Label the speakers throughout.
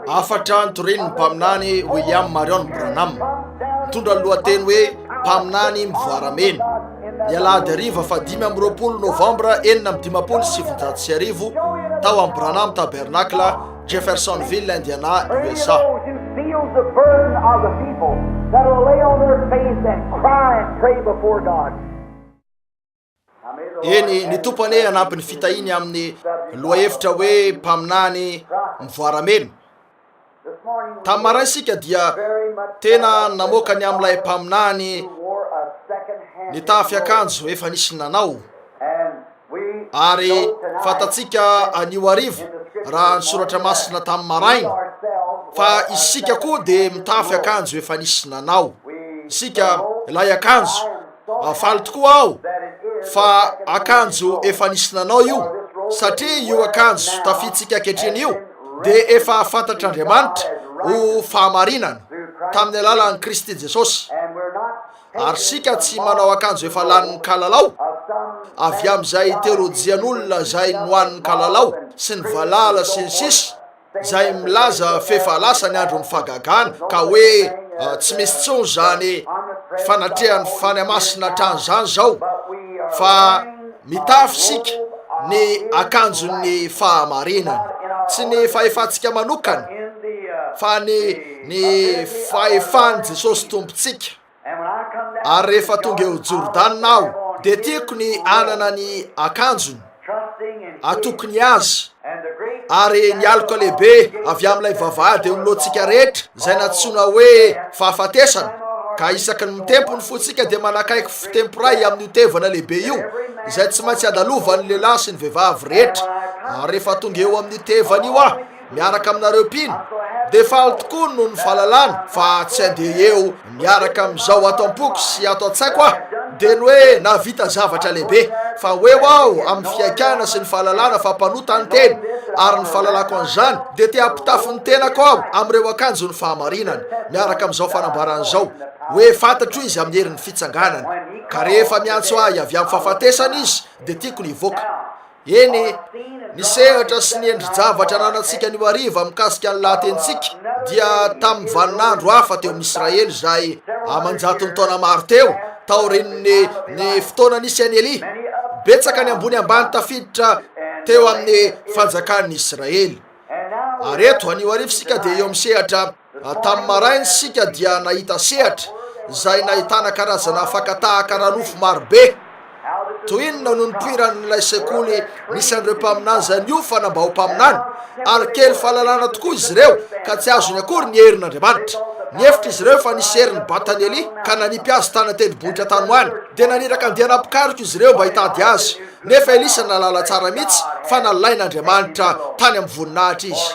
Speaker 1: Hafatra notorin'ny
Speaker 2: Mpaminany William Marrion Branham, mitondra ny lohateny hoe Mpaminany Mivoaramena, ny alahady hariva fahadimy amby roapolo Novambra enina amby dimampolo sy sivinjato sy arivo, tao amin'ny Branham Tabernacle, Jeffersonville, Indiana, USA. Eny, ny Tompo anie hanampy ny fitahiany amin'ny lohahevitra hoe mpaminany mivoaramena. Tamin'ny maray isika dia tena namoaka ny amin'ilay mpaminany nitafy akanjo efa nisy nanao. Ary fantatsika anio hariva, raha ny soratra masina tamin'ny maraina, fa isika koa dia mitafy akanjo efa nisy nanao isika ilay akanjo. Faly tokoa aho fa akanjo efa nisy nanao io, satria io akanjo tafiantsika ankehitriny io dia efa fantatr'Andriamanitra ho fahamarinana tamin'ny alalan'i Kristy Jesosy. ary isika tsy manao akanjo efa lanin'ny kalalao, avy amin'izay terojian'olona izay nohanin'ny kalalao sy ny valala sy ny sisa izay milaza f'efa lasa ny andron'ny fagagana ka hoe tsy misy tsony izany fanatrehan'ny fany masina hatrany izany izao fa mitafy isika ny akanjon'ny fahamarinana tsy ny fahefantsika manokana fa ny ny fahefan'i Jesosy Tompontsika. Ary rehefa tonga eo Jordana aho, dia tiako ny hanana ny akanjony atokony ny azy, ary ny aloka lehibe avy amin'ilay vavahady eo anoloantsika rehetra, izay nantsoina hoe Fahafatesana, ka isaky ny mitempo ny fontsika dia manakaiky fitempo iray amin'io tevana lehibe io, izay tsy maintsy andalovan'ny lehilahy sy ny vehivavy rehetra, ary rehefa tonga eo amin'io tevana io aho, miaraka aminareo mpino dia faly tokoa noho ny fahalalana fa tsy andeha eo miaraka amin'izao ato am-poko sy ato an-tsaiko aho dia ny hoe nahavita zavatra lehibe fa ho eo aho amin'ny fihaikana sy ny fahalalana fa mpanota ny teny ary ny fahalalako an'izany dia te hampitafy ny tenako aho amin'ireo akanjon'ny fahamarinana miaraka amin'izao fanambarana izao hoe fantatro izy amin'ny herin'ny fitsanganana ka rehefa miantso ahy avy amin'ny fahafatesana izy dia tiako ny hivoaka Eny, ny sehatra sy ny endri-javatra ananantsika anio hariva mikasika ny lahatenintsika dia tamin'ny vaninandro hafa teo amin'i Israely izay aman-jatony taona maro teo taorian'ny ny fotoana nisy an'i Elia. Betsaka ny ambony ambany tafiditra teo amin'ny fanjakan'ny Israely. Ary eto, anio hariva isika dia eo amin'ny sehatra Tamin'ny maraina isika dia nahita sehatra izay nahitana karazana fakatahaka ara-nofo maro be. Toy inona no nipoiran'ilay sekoly nisy an'ireo mpaminany izay niofana mba ho mpaminany, ary kely fahalalana tokoa izy ireo ka tsy azony akory ny herin'Andriamanitra! Nihevitra izy ireo fa nisy herin'i Batany Elia ka nanipy azy tany an-tendrombohitra tany ho any. Dia naniraka andiana mpikaroka izy ireo mba hitady azy. Nefa Elisa nahalala tsara mihitsy fa nalain'Andriamanitra tany amin'ny voninahitra izy,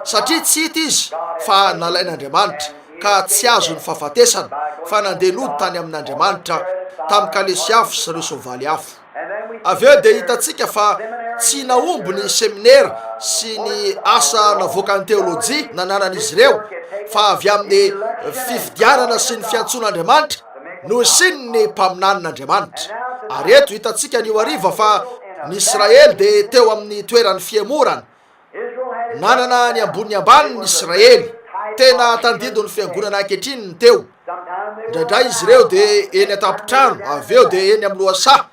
Speaker 2: satria tsy hita izy fa nalain'Andriamanitra, ka tsy azony fahafatesana, fa nandeha nody tany amin'Andriamanitra, tamin'ny kalesy afo sy ireo soavaly afo. Avy eo dia hitantsika fa tsy nahomby ny seminera sy ny asa navoakan'ny teolojia nananan'izy ireo, fa avy amin'ny fifidianana sy ny fiantsoan'Andriamanitra, Nohisiany ny mpaminanin'Andriamanitra. Ary eto hitantsika anio hariva fa ny Israely dia teo amin'ny toeran'ny fihemorana. Nanana ny ambony ny ambany ny Israely. Tena tandindon'ny fiangonana ankehitriny ny teo. Indraindray izy ireo dia eny an-tampon-trano, avy eo dia eny amin'ny lohasaha.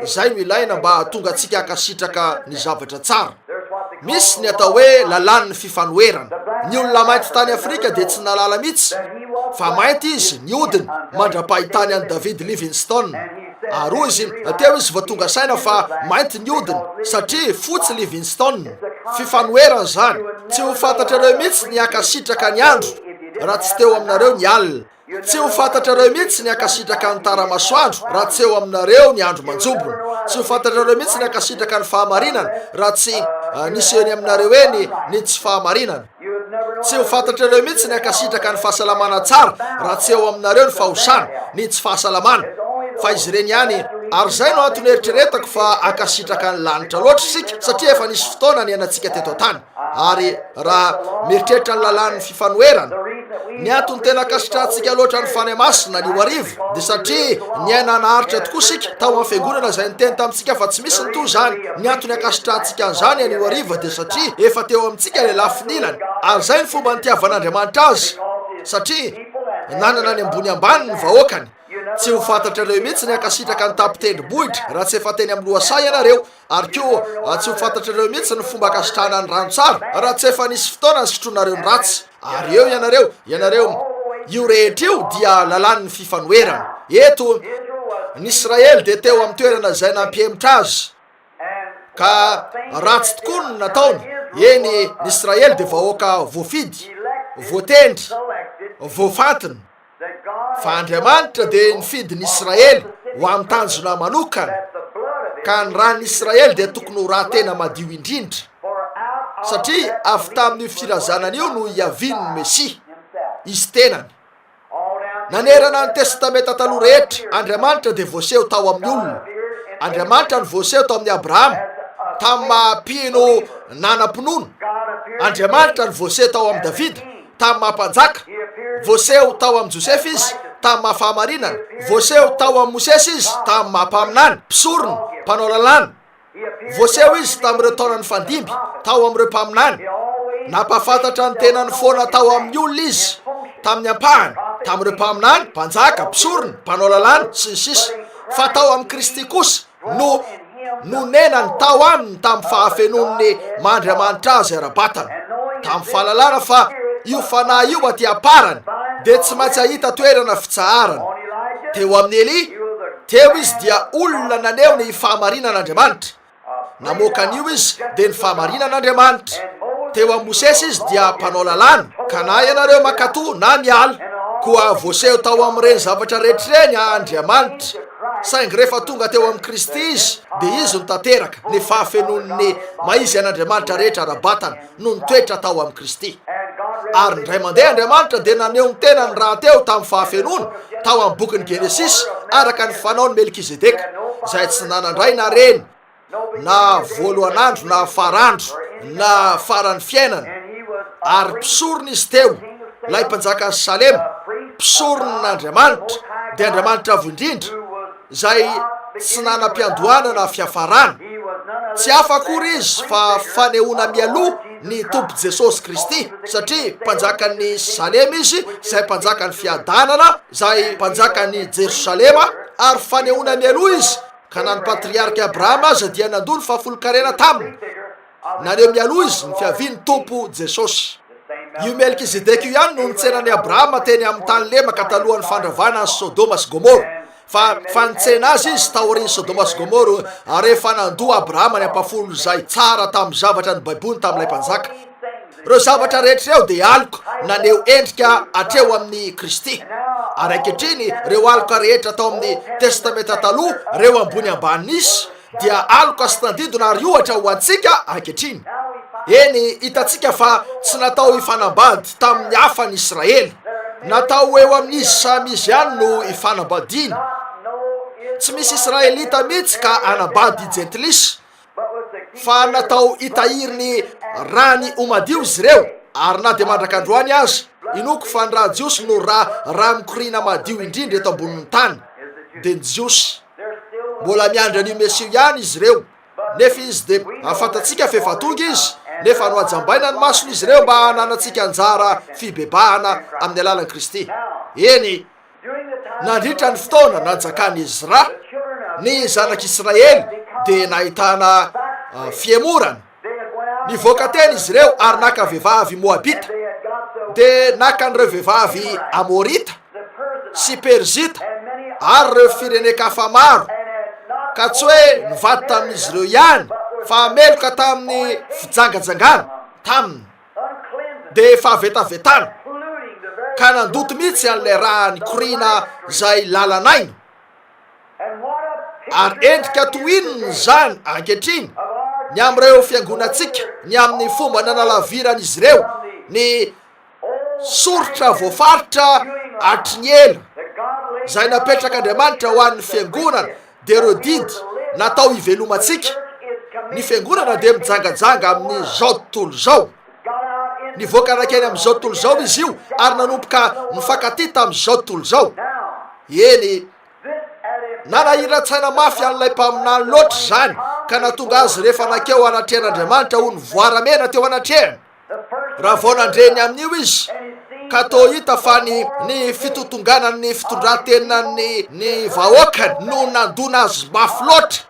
Speaker 2: Izay no ilaina mba hahatonga antsika hankasitraka ny zavatra tsara. Misy ny atao hoe lalàn'ny fifanoherana. Ny olona mainty tany Afrika dia tsy nahalala mihitsy fa mainty izy ny hodiny mandra-pahitany an'i David Livingstone. Ary hoy izy, Teo izy vao tonga saina fa mainty ny hodiny, satria fotsy Livingstone. Fifanoherana izany. Tsy ho fantatrareo mihitsy ny hankasitraka ny andro raha tsy teo aminareo ny alina. Tsy ho fantatrareo mihitsy ny hankasitraka ny tara-masoandro raha tsy eo aminareo ny andro manjombona. Tsy ho fantatrareo mihitsy ny hankasitraka ny fahamarinana raha tsy nisy eny aminareo eny ny tsy fahamarinana. Tsy ho fantatrareo mihitsy ny hankasitraka ny fahasalamana tsara raha tsy eo aminareo ny fahosana, ny tsy fahasalamana. Fa izy ireny ihany. Ary izay no antony eritreretako fa hankasitraka ny lanitra loatra isika, satria efa nisy fotoana niainantsika teto an-tany. Ary raha mieritreritra ny lalàn'ny fifanoherana, ny antony tena ankasitrahantsika loatra ny Fanahy Masina anio hariva dia satria niaina naharitra tokoa isika tao amin'ny Fiangonana izay niteny tamintsika fa tsy misy ny toy izany. Ny antony ankasitrahantsika an'izany anio hariva dia satria efa teo amintsika ilay lafiny ilany, ary izay ny fomba nitiavan'Andriamanitra azy, satria nanana ny ambony ambany ny vahoakany. Tsy ho fantatrareo mihitsy ny hankasitraka ny tapin-tendrombohitra raha tsy efa teny amin'ny lohasaha ianareo. Ary koa, tsy ho fantatrareo mihitsy ny fomba ankasitrahana ny rano tsara, raha tsy efa nisy fotoana nisotroanareo ny ratsy. Ary eo ianareo, ianareo. Io rehetra io dia lalàn'ny fifanoherana. Eto, ny Israely dia teo amin'ny toerana izay nampihemotra azy, ka ratsy tokoa no nataony. Eny, ny Israely dia vahoaka voafidy, voatendry, voafantina. fa Andriamanitra dia nifidy ny Israely ho amin'ny tanjona manokana, ka ny ran'ny Israely dia tokony ho ra tena madio indrindra, satria avy tamin'io firazanana io no hiaviany ny Mesia, Izy tenany. Nanerana ny Testamenta Taloha rehetra, Andriamanitra dia voaseho tao amin'ny olona. Andriamanitra no voaseho tao amin'ny Abrahama, tamin'ny maha-mpino nanam-pinoana. Andriamanitra no voaseho tao amin'i Davida, tamin'ny maha-mpanjaka, voaseho tao amin'i Josefa izy, tamin'ny maha-fahamarinana, voaseho tao amin'i Mosesy izy, tamin'ny maha-mpaminany, mpisorona, mpanao lalàna, voaseho izy tamin'ireo taona nifandimby, tao amin'ireo mpaminany. Nampahafantatra ny tenany foana tao amin'ny olona izy, tamin'ny ampahany, tamin'ireo mpaminany, mpanjaka, mpisorona, mpanao lalàna, sy ny sisa. Fa tao amin'i Kristy kosa, no nonenany tao aminy tamin'ny fahafenoan'ny mandriamanitra azy ara-batana, tamin'ny fahalalana fa io fanahy io aty am-parany dia tsy maintsy hahita toerana fitsaharana. Teo amin'i Elia, teo izy dia olona naneho ny fahamarinan'Andriamanitra. Namoaka an'io izy dia ny fahamarinan'Andriamanitra. Teo amin'i Mosesy izy dia mpanao lalàna, ka na ianareo mankatò na miala, koa voaseho tao amin'ireny zavatra rehetra ireny Andriamanitra. Saingy rehefa tonga teo amin'i Kristy izy, dia Izy no tanteraka, ny fahafenoan'ny maha-Izy an'Andriamanitra rehetra ara-batana no nitoetra tao amin'i Kristy. Ary indray mandeha Andriamanitra dia naneho ny tenany rahateo tamin'ny fahafenoana, tao amin'ny bokin'ny Genesisy, araka ny fanaon'i Melkizedeka, izay tsy nanan-dray na reny, na voalohan'andro na farandro na faran'ny fiainany, ary mpisorona izy teo, ilay mpanjakan'i Salema, mpisoronan'Andriamanitra, dia Andriamanitra Avo Indrindra, izay tsy nanam-piandohana na fiafarana. Tsy hafa akory izy fa fanehoana mialoha ny Tompo Jesosy Kristy, satria mpanjakan'ny Salema izy, izay mpanjakan'ny fiadanana, izay mpanjakan'i Jerosalema, ary fanehoana mialoha izy, ka na ny patriarika Abrahama aza dia nandoa ny fahafolon-karena taminy, naneho mialoha izy ny fiavian'ny Tompo Jesosy. Io Melkizedeka io ihany no nitsenan'i Abrahama teny amin'ny tany lemaka talohan'ny fandravana an'i Sodoma sy Gomora, fa fa nitsena azy izy taorian'i Sodoma sy Gomora, ary efa nandoa Abrahama ny ampafolony izay tsara tamin'ny zavatra ny Baiboly tamin'ilay mpanjaka. Ireo zavatra rehetra ireo dia aloka naneho endrika hatreo amin'i Kristy. Ary ankehitriny, ireo aloka rehetra tao amin'ny Testamenta Taloha, ireo ambony ambany nisy, dia aloka sy tandindona ary ohatra ho antsika ankehitriny. Eny, hitantsika fa tsy natao hifanambady tamin'ny hafa ny Israely. Natao ho eo amin'izy samy izy ihany no ifanambadiany. Tsy misy Israelita mihitsy ka hanambady Jentilisa. fa natao hitahiry ny rany ho madio izy ireo, ary na dia mandrak'androany aza, inoako fa ny rà jiosy no rà rà mikoriana madio indrindra eto ambonin'ny tany, dia ny Jiosy. Mbola miandry an'io Mesia io ihany izy ireo, nefa izy dia, ary fantatsika fa efa tonga izy, nefa nohajambaina ny mason'izy ireo mba hananantsika anjara fibebahana amin'ny alalan'i Kristy. Eny. Nandritra ny fotoana nanjakan'i Ezra, ny zanak'Israely dia nahitana fihemorana. Nivoaka tena izy ireo ary naka vehivavy moabita, dia naka an'ireo vehivavy amorita sy perizita ary ireo firenen-kafa maro, ka tsy hoe nivady tamin'izy ireo ihany fa meloka tamin'ny fijangajangana taminy. dia efa vetavetana ka nandoto mihitsy an'ilay raha nikoriana izay lalan'aina. Ary endrika toy inona izany ankehitriny ny amin'ireo fiangonantsika ny amin'ny fomba nanalaviran'izy ireo ny soritra voafaritra hatry ny ela izay napetrak'Andriamanitra ho an'ny fiangonana dia ireo didy natao hivelomantsika, ny fiangonana dia mijangajanga amin'ny izao tontolo izao. Nivoaka nankeny amin'izao tontolo izao izy io ary nanomboka nifankatia tamin'izao tontolo izao. Eny, nanahiran-tsaina mafy an'ilay mpaminany loatra izany ka nahatonga azy rehefa nankeo anatrehan'Andriamanitra ho nivoara-mena teo anatrehany. Raha vao nandre ny amin'io izy, ka toa hita fa ny ny fitontonganan'ny fitondran-tenan'ny ny vahoakany no nandona azy mafy loatra,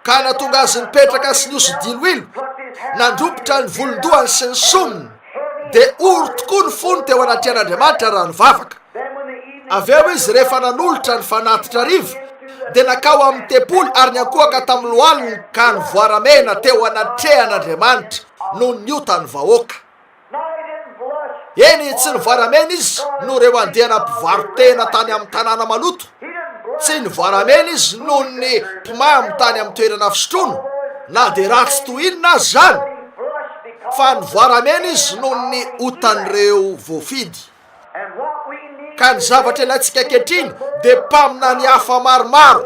Speaker 2: ka natonga azy nipetraka sy niosy diloilo, nandropotra ny volon-dohany sy ny sominy, dia ory tokoa ny fony teo anatrehan'Andriamanitra raha nivavaka. Avy eo izy rehefa nanolotra ny fanatitra hariva, dia nakao amin'ny tempoly ary niankohoka tamin'ny lohaliny ka nivoaramena teo anatrehan'Andriamanitra. noho ny otan'ny vahoaka. Eny, tsy nivaramena izy noho ireo andiana mpivaro-tena tany amin'ny tanàna maloto, tsy nivaramena izy noho ny mpimamo tany amin'ny toerana fisotroana, na dia ratsy toy inona aza izany, fa nivaramena izy noho ny otan'ireo voafidy. Ka ny zavatra ilaintsika ankehitriny dia mpaminany hafa maromaro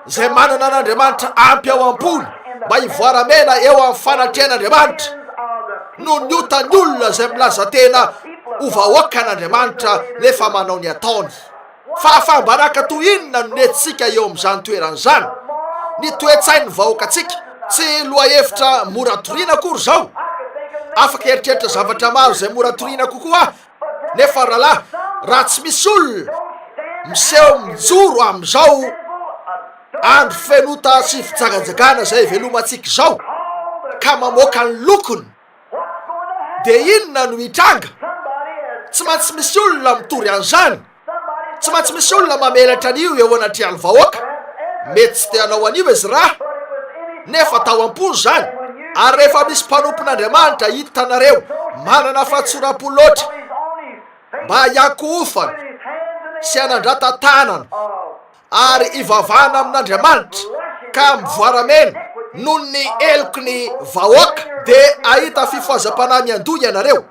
Speaker 2: izay manana an'Andriamanitra ampy ao am-pony mba hivoaramena eo amin'ny fanatrehan'Andriamanitra noho ny otan'ny olona izay milaza tena ho vahoakan'Andriamanitra nefa manao ny ataony. Fahafaha-baraka toy inona no nentintsika eo amin'izany toerana izany? Ny toe-tsain'ny vahoakantsika, tsy lohahevitra mora toriana akory izao. Afaka hieritreritra zavatra maro izay mora toriana kokoa aho, nefa rahalahy, raha tsy misy olona miseho mijoro amin'izao andro feno ota sy fijagajagana izay ivelomantsika izao, ka mamoaka ny lokony, Dia inona no hitranga? Tsy maintsy misy olona mitory an'izany. Tsy maintsy misy olona mamelatra an'io eo anatrehan'ny vahoaka. Mety tsy te hanao an'io Ezra, nefa tao am-pony izany. Ary rehefa misy mpanompon'Andriamanitra hitanareo manana fahatsoram-po loatra mba hiankohofana sy hanandrata-tanana ary ivavahana amin'Andriamanitra ka mivoaramena noho ny heloky ny vahoaka dia ahita fifohazam-panahy miandoha ianareo.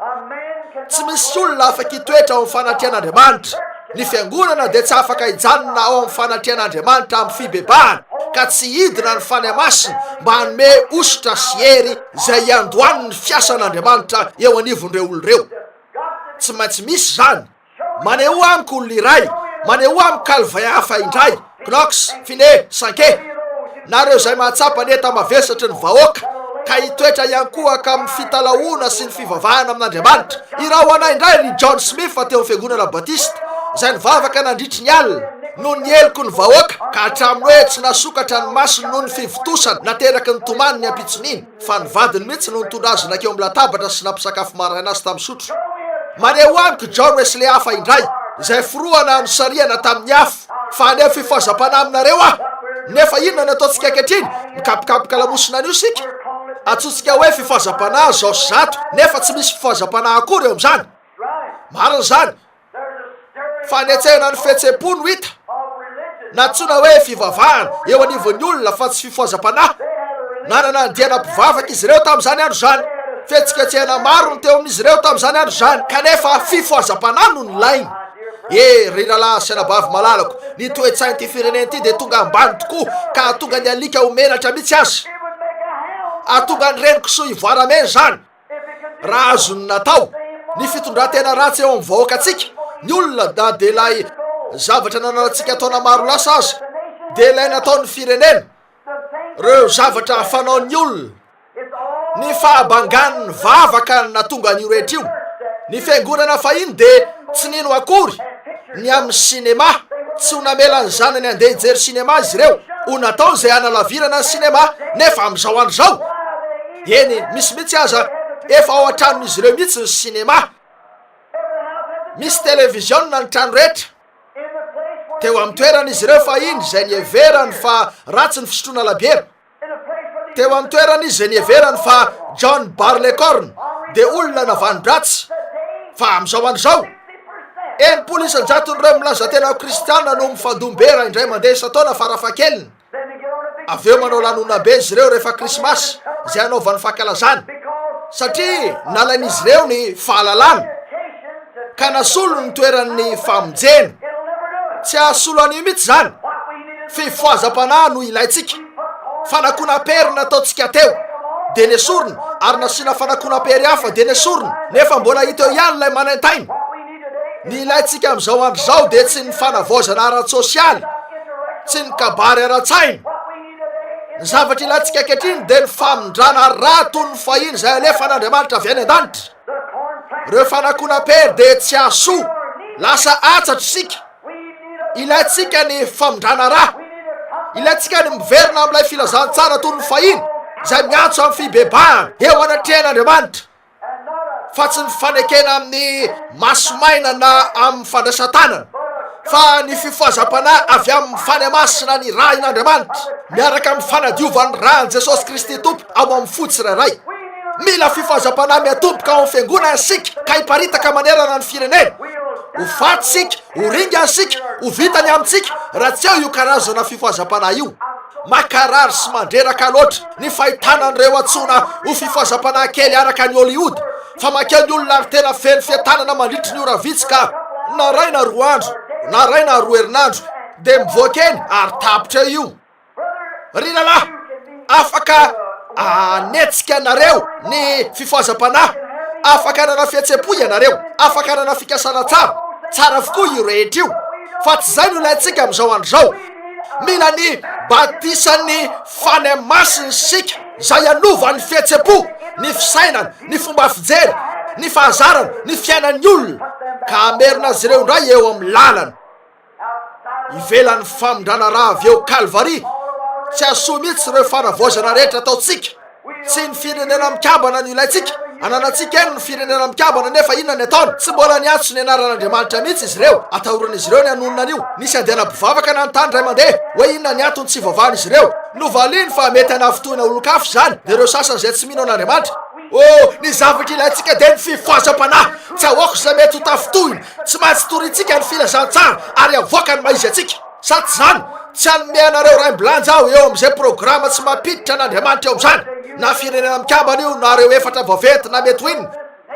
Speaker 2: Tsy misy olona afaka hitoetra ao amin'ny fanatrehan'Andriamanitra. Ny fiangonana dia tsy afaka hijanona ao amin'ny fanatrehan'Andriamanitra amin'ny fibebahana ka tsy hidina ny Fanahy Masina mba hanome hosotra sy hery izay hiandohany ny fiasan'Andriamanitra eo anivon'ireo olona ireo. Tsy maintsy misy izany. Manehoa amiko olona iray, manehoa amiko Calvin hafa indray, Knox, Finney, Sankey, na ireo izay mahatsapa ny enta-mavesatry ny vahoaka, ka hitoetra hiankohoka amin'ny fitalahoana sy ny fivavahana amin'Andriamanitra. Iraho ho anay indray ry John Smith teo amin'ny Fiangonana Batista, izay nivavaka nandritry ny alina, noho ny heloko ny vahoaka, ka hatramin'ny hoe tsy nasokatra ny masony noho ny fivontosana nateraky ny tomany ny ampitson'iny. fa ny vadiny mihitsy no nitondra azy nankeo amin'ny latabatra sy nampisakafo maraina azy tamin'ny sotro. Maneho amiko i John Wesley hafa indray, izay forohana nosarihana tamin'ny afo, fa haneho fifazam-panahy aminareo aho. Nefa inona no ataontsika ankehitriny? Mikapokapoka lamosina anio isika. Antsointsika hoe fifazam-panahy izao sy izato, nefa tsy misy fifazam-panahy akory eo amin'izany. Marina izany. Fanetsehana ny fihetseham-po no hita, nantsoina hoe fivavahana, eo anivon'ny olona fa tsy fifohazam-panahy. Nanana andiana mpivavaka izy ireo tamin'izany andro izany. Fihetsiketsehana maro no teo amin'izy ireo tamin'izany andro izany, kanefa fifohazam-panahy no nilainy. E, ry rahalahy sy anabavy malalako, ny toe-tsain'ity firenena ity dia tonga ambany tokoa, ka hahatonga ny alika ho menatra mihitsy aza. Hahatonga ny reni-kisoa hivoara mena izany. Raha azony natao ny fitondran-tena ratsy eo amin'ny vahoakantsika, ny olona na dia ilay zavatra nananantsika taona maro lasa aza, dia ilay nataon'ny firenena, ireo zavatra fanaon'ny olona, ny fahabangan'ny vavaka natonga an'io rehetra io. Ny fiangonana fahiny dia tsy nino akory ny amin'ny sinema, tsy ho namela ny zanany handeha hijery sinema izy ireo, ho natao izay hanalavirana ny sinema, nefa amin'izao andro izao, Eny, misy mihitsy aza, efa ao an-tranon'izy ireo mihitsy ny sinema. Misy televiziona ny trano rehetra. Teo amin'ny toeran'izy ireo fahiny izay niheverany fa ratsy ny fisotroana labiera. Teo amin'ny toeran'izy izay niheverany fa John Barleycorn dia olona navanon-dratsy. Fa amin'izao andro izao, enimpolo isan-jaton'ireo milaza tena ho kristiana no mifandom-bera indray mandeha isan-taona farafahakeliny. Avy eo manao lanonana be izy ireo rehefa Krismasy, izay anaovany fankalazana, satria nalain'izy ireo ny fahalalana, ka nasolo ny toeran'ny famonjena. Tsy hahasolo anio mihitsy izany. Fifohazam-panahy no ilaintsika. Fanakonam-pery no nataontsika teo, dia nesorina, ary nasiana fanakonam-pery hafa, dia nesorina, nefa mbola hita eo ihany ilay manaintaina. Ny ilaintsika amin'izao andro izao dia tsy ny fanavaozana ara-tsosialy, tsy ny kabary ara-tsaina. Ny zavatra ilaintsika ankehitriny dia ny famindrana ra toy ny fahiny izay alefan'Andriamanitra avy any an-danitra. Ireo fanakonam-pery dia tsy hahasoa, lasa antsatro isika. Ilaintsika ny famindrana ra. Ilaintsika ny miverina amin'ilay filazantsara toy ny fahiny izay miantso amin'ny fibebahana eo anatrehan'Andriamanitra. fa tsy ny fanekena amin'ny maso maina na amin'ny fandraisan-tanana, fa ny fifohazam-panahy avy amin'ny fanahy masina nirahin'Andriamanitra, miaraka amin'ny fanadiovan'ny ran'i Jesosy Kristy Tompo ao amin'ny fo tsirairay. Mila fifohazam-panahy miatomboka ao amin'ny Fiangonana isika ka hiparitaka manerana ny firenena. Ho faty isika Ho ringa isika, ho vita ny amintsika raha tsy eo io karazana fifohazam-panahy io. Makarary sy mandreraka loatra ny fahitana an'ireo antsoina ho fifohazam-panahy kely araka an'i Hollywood, fa mankeo ny olona ary tena feno fientanana mandritry ny ora vitsy ka. Naraina roa andro, naraina roa herinandro, dia mivoaka eny ary tapitra eo io. Ry rahalahy, afaka hanetsika anareo ny fifohazam-panahy, afaka hanana fihetsem-po ianareo, afaka hanana fikasana tsara, tsara avokoa io rehetra io, fa tsy izay no ilaintsika amin'izao andro izao. Mila ny batisan'ny Fanahy Masina isika, izay hanova ny fihetsem-po, ny fisainana, ny fomba fijery, ny fahazarana, ny fiainan'ny olona, ka hamerina azy ireo indray eo amin'ny lalana. ivelan'ny famindrana ra avy eo Kalvary, tsy hasoa mihitsy ireo fanavaozana rehetra ataontsika, tsy ny firenena mikambana no ilaintsika, ananantsika eny ny firenena mikambana nefa inona ny ataony, tsy mbola niantso ny anaran'Andriamanitra mihitsy izy ireo, atahoran'izy ireo ny hanonona an'io, nisy andiana mpivavaka nanontany iray mandeha hoe inona ny antony tsy ivavahan'izy ireo, novaliany fa mety hanafitohina olon-kafa izany dia ireo sasany izay tsy mino an'Andriamanitra. Oh, ny zavatra ilaintsika dia ny fifohazam-panahy, tsy ahoako izay mety ho tafitohina, Tsy maintsy torintsika ny filazantsara ary avoaka ny maha-izy antsika. Sa tsy izany? Tsy hanome anareo raim-bilanja aho eo amin'izay programa tsy mampiditra an'Andriamanitra eo amin'izany, na firenena mikambana io na ireo efatra vaventy na mety ho inona.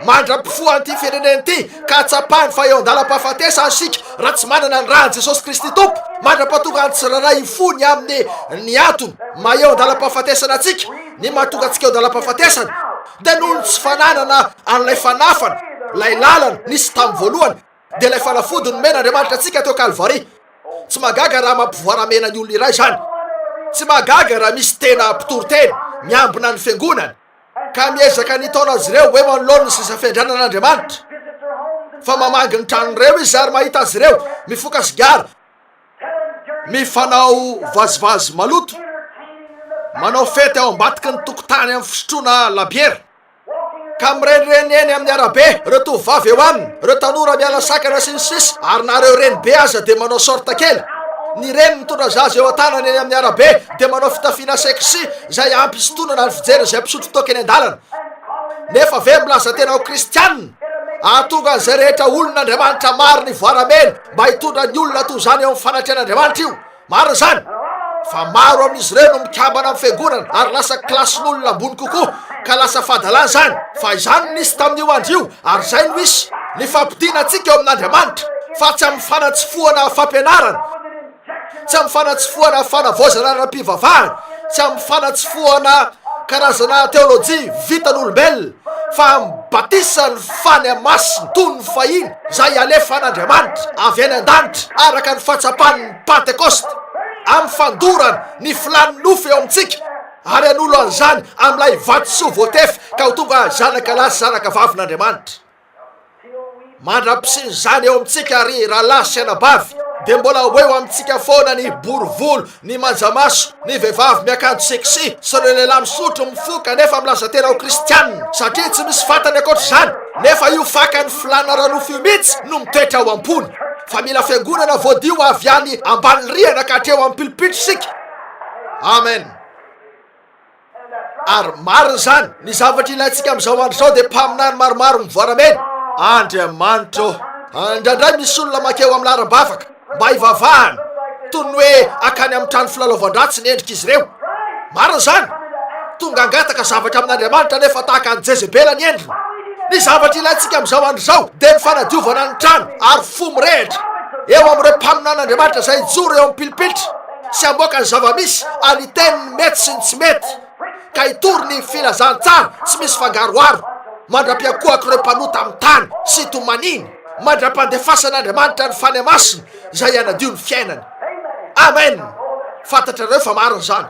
Speaker 2: Mandra-pifohana ity firenena ity ka hatsapany fa eo an-dalam-pahafatesana isika raha tsy manana ny ran'i Jesosy Kristy Tompo mandra-pahatongan'ny tsirairay hifony amin'ny ny antony maha-eo an-dalam-pahafatesana antsika, ny mahatonga antsika eo an-dalam-pahafatesana. Dia noho ny tsy fananana an'ilay fanafana, ilay lalana, nisy tamin'ny voalohany, dia ilay fanafody nomen'Andriamanitra antsika teo Kalvary. Tsy mahagaga raha mampivoaramena ny olona iray izany. Tsy mahagaga raha misy tena mpitory teny miambina ny fiangonany, ka miezaka ny hitaona azy ireo eo anoloan'ny seza fiandrianan'Andriamanitra. Fa mamangy ny tranon'ireo izy ary mahita azy ireo mifoka sigara. Mifanao vazivazy maloto, manao fety ao ambadiky ny tokotany amin'ny fisotroana labiera ka mirenireny eny amin'ny arabe ireo tovovavy eo aminy, ireo tanora miala sakana sy ny sisa ary na ireo renibe aza dia manao sorte kely. Ny reny mitondra zaza eo an-tanany eny amin'ny arabe dia manao fitafiana sexy izay hampisintonana ny fijery izay mpisotro toaka eny an-dalana. Nefa ve milaza tena ho kristianina? Hahatonga an'izay rehetra olona Andriamanitra marina hivoaramena. Mba hitondra ny olona toy izany eo amin'ny fanatrehan'Andriamanitra io. Marina izany. Fa maro amin'izy ireo no mikambana amin'ny fiangonana ary lasa kilasin'olona ambony kokoa, ka lasa fahadalana izany. Fa izany no nisy tamin'io andro io, ary izay no hisy. Ny fampodiana antsika eo amin'Andriamanitra, fa tsy amin'ny fanatsofohana fampianarana. Tsy amin'ny fanatsofohana fanavaozana ara-pivavahana, tsy amin'ny fanatsofohana karazana teolojia vitan'olombelona, fa amin'ny batisan'ny fania masina toy ny fahiny izay alefan'Andriamanitra avy any an-danitra araka ny fahatsapan'ny Pantekosta, amin'ny fandorana ny filàn'ny nofo eo amintsika, ary hanolo an'izany amin'ilay vatosoa voatefy ka ho tonga zanakalahy sy zanakavavin'Andriamanitra. Mandra-pisian'izany eo amintsika ry rahalahy sy anabavy, dia mbola ho eo amintsika foana ny bory volo, ny manja maso, ny vehivavy miakanjo sexy sy ireo lehilahy misotro, mifoka nefa milaza tena ho kristianina, satria tsy misy fantany ankoatr'izany, nefa io fakan'ny filàna ara-nofo io mihitsy no mitoetra ao am-pony. Fa mila fiangonana voadio avy any ambany rihana ka hatreo amin'ny pilipitra isika. Amen. Ary marina izany, ny zavatra ilaintsika amin'izao andro izao dia mpaminany maromaro mivoaramena. Andriamanitra ô! Indraindray misy olona mankeo amin'ny laharam-bavaka mba hivavahana, toy ny hoe hankany amin'ny trano filalaovan-dratsy ny endrik'izy ireo. Marina izany. Tonga hangataka zavatra amin'Andriamanitra anefa tahaka an'i Jezebela ny endriny. Ny zavatra ilaintsika amin'izao andro izao dia ny fanadiovana ny trano ary fo mirehitra eo amin'ireo mpaminan'Andriamanitra izay hijoro eo amin'ny pilipitra. Tsy hamoaka ny zava-misy ary hiteny ny mety sy ny tsy mety, ka hitory ny filazantsara tsy misy fangaroharo, mandra-piankohak'ireo mpanota amin'ny tany sy tomaniny, mandra-pandefasan'Andriamanitra ny Fanahy Masina izay hanadio ny fiainany. Amen! Fantatrareo fa marina izany.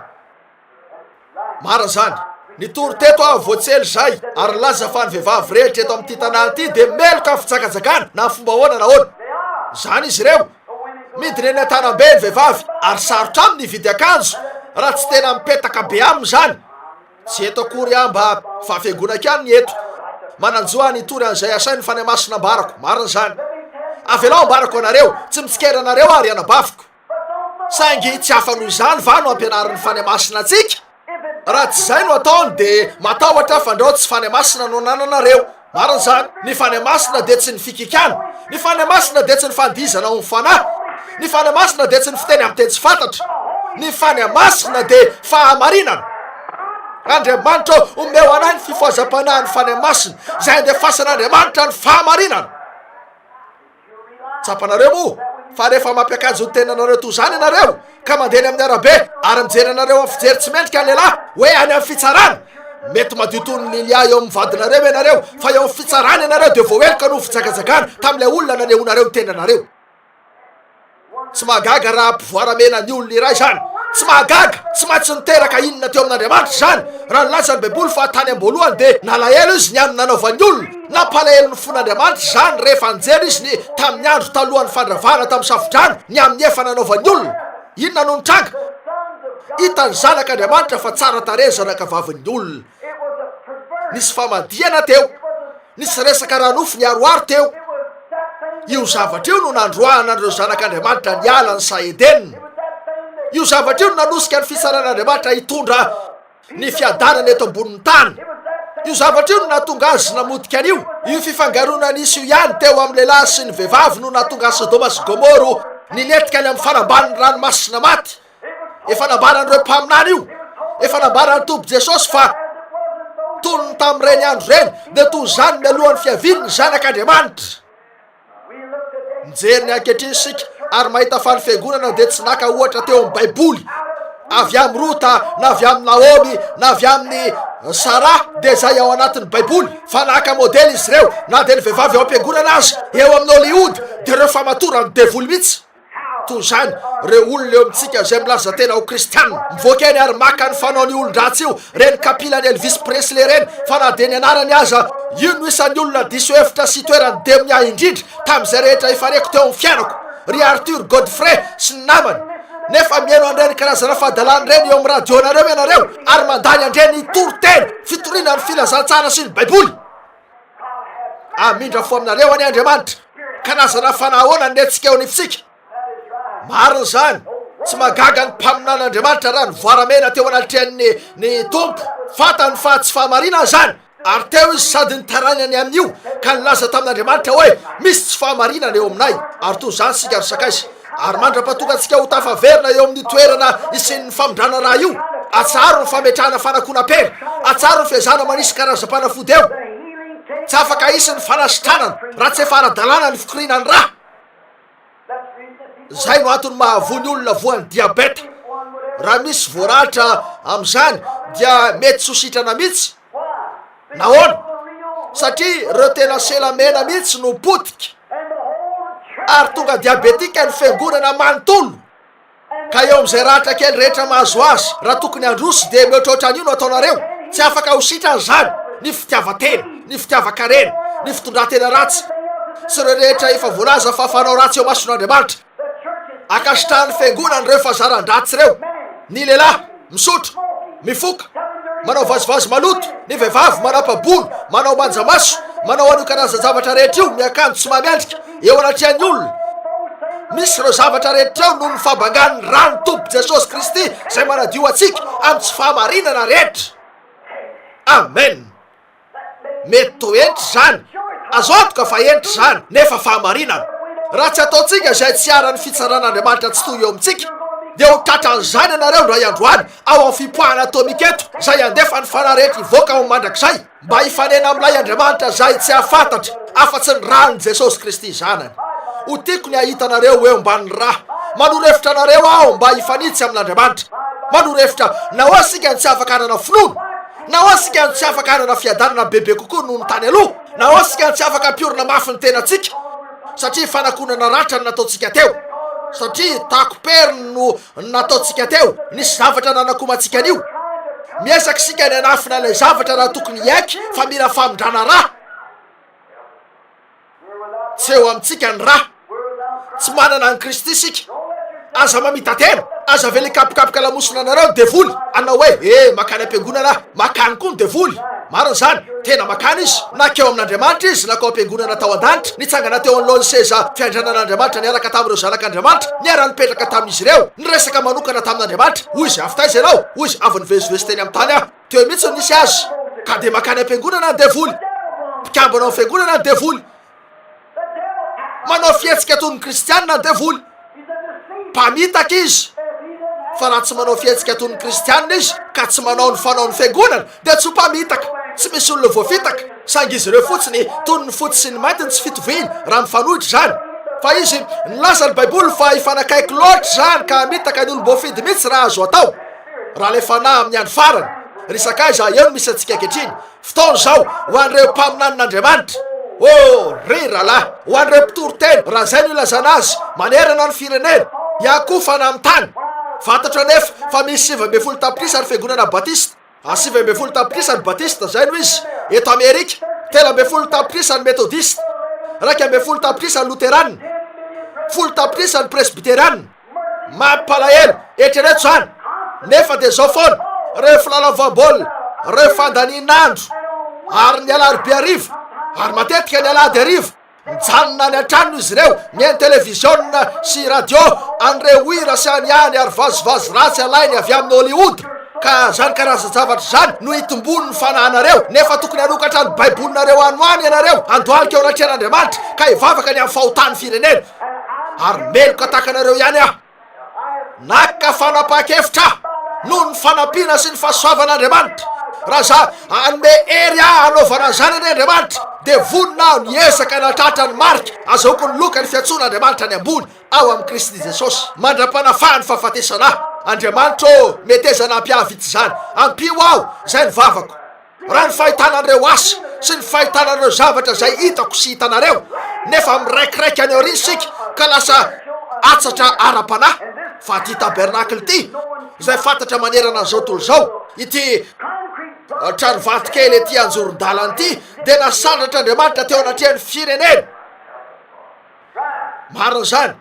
Speaker 2: Marina izany. Nitory teto aho vao tsy ela izay ary nilaza fa ny vehivavy rehetra eto amin'ity tanàna ity dia meloka amin'ny fijakajakana na fomba ahoana na ahoana. Izany izy ireo. Midina eny an-tanam-be ny vehivavy ary sarotra aminy hividy akanjo raha tsy tena mipetaka be aminy izany. Tsy eto akory aho mba fa fiangonako ihany ny eto. Manan-jo aho ny hitory an'izay asain'ny Fanahy Masina ambarako. Marina izany. Avelao ambarako anareo. Tsy mitsikera anareo aho ry anabaviko. Saingy tsy hafa noho izany va no ampianarin'ny Fanahymasina antsika? Raha tsy izay no ataony dia matahotra fandrao tsy Fanahymasina no anananareo. Marina izany. Ny Fanahymasina dia tsy ny fikikana. Ny Fanahymasina dia tsy ny fandihizana ao amin'ny Fanahy. Ny Fanahymasina dia tsy ny fiteny amin'ny teny tsy fantatra. Ny Fanahymasina dia fahamarinana. Andriamanitra ô, omeo anay ny fifohazam-panahin'ny Fanahymasina, izay andefasan'Andriamanitra ny fahamarinana. Tsapanareo moa fa rehefa mampiakajy ny tenanareo toa izany ianareo ka mandeha eny amin'ny arabe ary mijery anareo amin'ny fijery tsy mendrika ny lehilahy hoe any amin'ny fitsarana, mety madio toy ny Lilia eo amin'ny vadinareo ianareo fa eo amin'ny fitsarana ianareo dia voaheloka noho fijagajagana tamin'ilay olona nanehoanareo ny tenanareo. Tsy mahagaga raha ampivoaramena ny olona iray izany. Tsy mahagaga, tsy maintsy niteraka inona teo amin'Andriamanitra izany? Raha nilaza ny Baiboly fa tany am-boalohany dia nalahelo izy ny amin'ny nanaovan'ny olona, nampalahelo ny fon'Andriamanitra izany rehefa nijery izy ny tamin'ny andro talohan'ny fandravana tamin'ny safodrano ny amin'ny efa nanaovan'ny olona. Inona no nitranga? Hitan'ny Zanak'Andriamanitra fa tsara tarehy ny zanakavavin'ny olona. Nisy famadihana teo. Nisy resaka ara-nofo niharoharo teo. Io zavatra io no nandroahana an'ireo zanak'Andriamanitra niala ny saha Edena. Io zavatra io no nanosika ny fitsaran'Andriamanitra hitondra ny fiadanana eto ambonin'ny tany. Io zavatra io no nahatonga azy namotika an'io. Io fifangaroana nisy io ihany teo amin'ny lehilahy sy ny vehivavy no nahatonga an'i Sodoma sy Gomoro nilentika any amin'ny fanambanin'ny ranomasina maty. Efa nambaran'ireo mpaminany io. Efa nambaran'ny Tompo Jesosy fa toy ny tamin'ireny andro ireny, dia toy izany mialohan'ny fiavian'ny zanak'Andriamanitra. Mijery ny ankehitriny isika ary mahita fa ny fiangonana dia tsy naka ohatra teo amin'ny Baiboly. Avy amin'ny Rota na avy amin'ny Naomy na avy amin'ny Sara dia izay ao anatin'ny Baiboly fa naka modely izy ireo na dia ny vehivavy eo am-piangonana aza eo amin'ny Hollywood dia ireo famatoran'ny devoly mihitsy. Toy izany, ireo olona eo amintsika izay milaza tena ho kristiana, mivoaka eny ary maka ny fanaon'io olon-dratsy io, ireny kapilan'i Elvis Presley ireny, fa na dia ny anarany aza. Io no isan'ny olona diso hevitra sy itoeran'ny demonia ahy indrindra tamin'izay rehetra efa reko teo amin'ny fiainako, ry Arthur Godfrey sy ny namany. Nefa mihaino an'ireny karazana fahadalana ireny eo amin'ny radionareo ianareo, ary mandany an'ireny toriteny fitoriana ny Filazantsara sy ny Baiboly. Amindra fo aminareo anie Andriamanitra, karazana fanahy ahoana ny retsika eo anivontsika? Marina izany, tsy magaga ny mpaminan'Andriamanitra raha nivoaramena teo anatrehan'ny ny tompo, fantany fa tsy fahamarinana izany, ary teo izy sady nitarainany amin'io, ka nilaza tamin'Andriamanitra hoe, misy tsy fahamarinana eo aminay, ary toy izany isika ry sakaisa. Ary mandra-pahatonga antsika ho tafaverina eo amin'ny toerana isian'ny famindrana ra io, atsaharo ny fametrahana fanakona pere, atsaharo ny fiezahana manisy karazam-panafody eo. Tsy afaka hisy ny fanasitranana raha tsy efa ara-dalàna ny fikoriana ny ra. Izay no antony mahavoa ny olona voan'ny diabeta. Raha misy voaratra amin'izany dia mety tsy ho sitrana mihitsy. Nahoana? Satria ireo tena sela mena mihitsy no potika. Ary tonga diabetika ny fiangonana manontolo. Ka eo amin'izay ratra kely rehetra mahazo azy, raha tokony handroso dia mihoatraotra an'io no ataonareo. Tsy afaka ho sitrana izany. Ny fitiavan-tena, ny fitiavan-karena, ny fitondran-tena ratsy, sy ireo rehetra efa voalaza fa fanao ratsy eo mason'Andriamanitra. Ankasitrahan'ny Fiangonana ireo fahazaran-dratsy ireo, ny lehilahy misotro, mifoka, manao vazivazy maloto, ny vehivavy manapa-bolo, manao manja maso, manao an'io karazan-javatra rehetra io, miakanjo tsy maha-miandrika eo anatrehan'ny olona. Misy ireo zavatra rehetra ireo noho ny fabangan'ny ran'ny Tompo Jesosy Kristy izay manadio antsika amin'ny tsy fahamarinana rehetra. Amena. Mety toetry izany. Azo antoka fa henitra izany, nefa fahamarinana. Raha tsy ataontsika izay tsy hiharan'ny fitsaran'Andriamanitra tsy toy eo amintsika, dia ho tratran'izany ianareo indray andro any, ao amin'ny fipoahana atômika eto, izay handefa ny fanahy rehetra hivoaka ho mandrakizay, mba hifanena amin'ilay Andriamanitra izay tsy hahafantatra afa-tsy ny ran'i Jesosy Kristy Zanany. Ho tiako ny hahita anareo eo ambanin'ny ra. Manoro hevitra anareo aho mba hifanitsy amin'Andriamanitra. Manoro hevitra, nahoa isika no tsy afaka hanana finoana? Naoisika no tsy afaka hanana fiadanana bebe kokoa noho ny tany aloha? Naoisika no tsy afaka hampiorina mafy ny tenantsika satria fanakonana ratra no nataontsika teo? Satria takom-periny no nataontsika teo? Nisy zavatra nanakoma antsika an'io. Miezaka isika ny hanafina ilay zavatra raha tokony hiaiky fa mila famindrana ra. Tsy eo amintsika ny rà. Tsy manana an'i Kristy isika. Aza mamita-tena. Aza avela hikapokapoka lamosina anareo ny devoly, hanao hoe, E, makany am-piangonana aho. Makany koa ny devoly. Marina izany. Tena makany izy. Na keo amin'Andriamanitra izy, na keo am-piangonana tao an-danitra. Nitsangana teo anoloan'ny seza fiandrianan'Andriamanitra niaraka tamin'ireo zanak'Andriamanitra. Niara-nipetraka tamin'izy ireo. Niresaka manokana tamin'Andriamanitra. Hoy izy, Avy taiza ianao? Hoy izy, Avy nivezivezy teny amin'ny tany aho. Teo mihitsy no nisy azy ka dia makany am-piangonana ny devoly. Mpikambana ao fiangonana ny devoly. Manao fihetsika toy ny kristianina ny devoly. Mpamitaka izy. Fa raha tsy manao fihetsika toy ny kristianina izy ka tsy manao ny fanaon'ny fiangonana dia tsy ho mpamitaka. Tsy misy olona voafitaka, saingy izy ireo fotsiny toy ny fotsy sy ny mainty ny tsy fitoviany raha mifanohitra izany. Fa izy, nilaza ny Baiboly fa hifanakaiky loatra izany ka hamitaka ny olom-boafidy mihitsy raha azo atao. Raha ilay fanahy amin'ny andro farany, ry sakaiza, eo no misy antsika ankehitriny. Fotoana izao ho an'ireo mpaminanin'Andriamanitra. Oh, ry rahalahy, ho an'ireo mpitory teny, raha izay no ilazana azy, manerana ny firenena, hiakofana amin'ny tany. Fantatro anefa fa misy sivy ambin'ny folo tapitrisa ny fiangonana batista. A sivy ambin'ny folo tapitrisa ny batista, izay no izy, eto Amerika. Telo ambin'ny folo tapitrisa ny metodista. Iraika ambin'ny folo tapitrisa ny loterana. Folo tapitrisa ny presbyteriana. Mampalahelo, eritrereto izany, nefa dia izao foana, ireo mpilalao voambaolina, ireo fandanian'andro, ary ny alarobia hariva, ary matetika ny alahady hariva, mijanona any an-tranony izy ireo, mihaino televiziona sy radio an'ireo hira sy an'ihany ary vazivazy ratsy alainy avy amin'ny Hollywood. Ka izany karazan-javatra izany no itomboany ny fanahinareo, nefa tokony hanokatra ny Baibolinareo any ho any ianareo, handohalika eo anatrehan'Andriamanitra, ka hivavaka ny amin'ny fahotan'ny firenena. ary meloka tahaka anareo ihany aho. Naka fanapaha-kevitra noho ny fanampiana sy ny fahasoavan'Andriamanitra. Raha za anome hery aho hanaovana izany anie Andriamanitra, dia vonona aho ny ezaka hanatratra ny marika azahoako ny loka ny fiantsoan'Andriamanitra any ambony ao amin'i Kristy Jesosy mandra-panafahan'ny fahafatesana ahy. Andriamanitra ô, metezana hampihavitsy izany. Ampio aho, izay ny vavako. Raha ny fahitana an'ireo asa sy ny fahitana an'ireo zavatra izay hitako sy hitanareo, nefa miraikiraiky any aoriana isika ka lasa atsatra ara-panahy, fa ity tabernacle ity, izay fantatra manerana an'izao tontolo izao, ity tranovato kely ety anjoron-dalana ity, dia nasandratr'Andriamanitra teo anatrehan'ny firenena. Marina izany.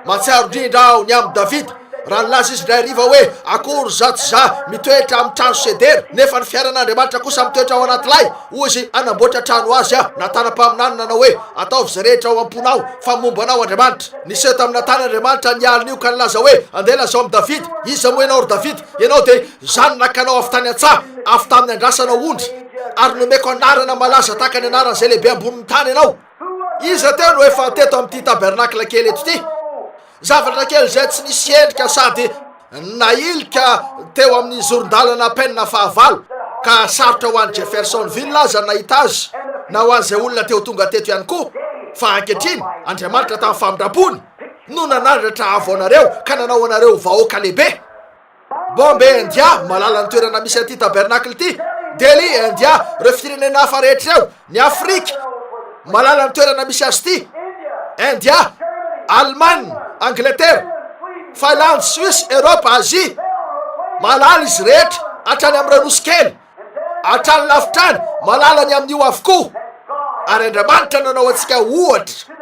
Speaker 2: Mahatsiaro indrindra aho ny amin'i Davida, raha nilaza izy indray hariva hoe, Akory izaho tsy izaho mitoetra amin'ny trano sedera, nefa ny fiairan'Andriamanitra kosa mitoetra ao anaty lay! Hoy izy, Hanamboatra trano ho azy aho, na tanam-paminany nanao hoe, Ataovy izay rehetra ao am-ponao, fa momba anao Andriamanitra. Niseho taminà tany Andriamanitra ny alin'io ka nilaza hoe, Andeha lazao amin'i Davida. Iza moa ianao, ry Davida? Ianao dia izaho no nakanao avy tany an-tsaha, avy tamin'ny andrasanao ondry, ary nomeko anarana malaza tahaka ny anaran'izay lehibe ambonin'ny tany ianao. Iza teo no efa teto amin'ity tabernacle kely eto ity? Zavatra kely izay tsy nisy endrika sady nailika teo amin'ny zoron-dalana penina fahavalo ka sarotra ho any Jeffersonville aza nahita azy na ho an'izay olona teo tonga teto ihany koa fa ankehitriny Andriamanitra tamin'ny famindrampony no nanandratra havoanareo ka nanao anareo vahoaka lehibe. Bombay, India, Malalan'ny toerana misy an'ity tabernacle ity. Delhi, India, Ireo firenena hafa rehetra ireo, ny Afrika, malalan'ny toerana misy azy ity. India, Allemagne, Angleterre, Finlande, Suisse, Europe, Asie. Malala izy rehetra, hatrany amin'ireo nosy kely. Hatrany lavitra any, malala ny amin'io avokoa. Ary Andriamanitra nanao antsika ohatra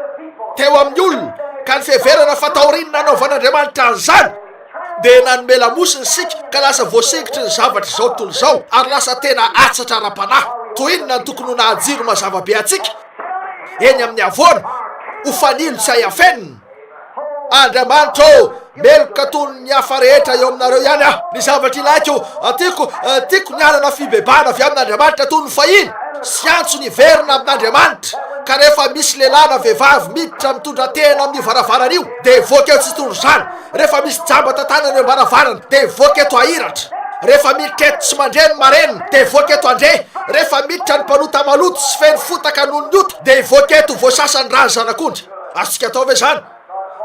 Speaker 2: teo amin'ny olona, ka ny fiheverana fa taorian'ny nanaovan'Andriamanitra an'izany, dia nanome lamosina isika ka lasa voasingitry ny zavatra izao tontolo izao, ary lasa tena atsatra ara-panahy. Toy inona no tokony ho naha-jiro mazava be antsika eny amin'ny havoana, ho fanilo tsy hay afenina! Andriamanitra ô, meloka toy ny hafa rehetra eo aminareo ihany aho. Ny zavatra ilaiko, tiako, tiako ny hanana fibebahana avy amin'Andriamanitra toy ny fahiny, sy antso niverina amin'Andriamanitra. Ka rehefa misy lehilahy na vehivavy miditra mitondra tehina amin'io varavarana io, dia hivoaka eo tsitondro izany. Rehefa misy jamba tantanana eo am-baravarana, dia hivoaka eto hahiratra. Rehefa miditra eto tsy mandre ny marenina, dia hivoaka eto handre. Rehefa miditra ny mpanota maloto sy feno fotaka noho ny ota, dia hivoaka eto ho voasasa ny ràn'ny Zanak'ondry. Azontsika atao ve izany?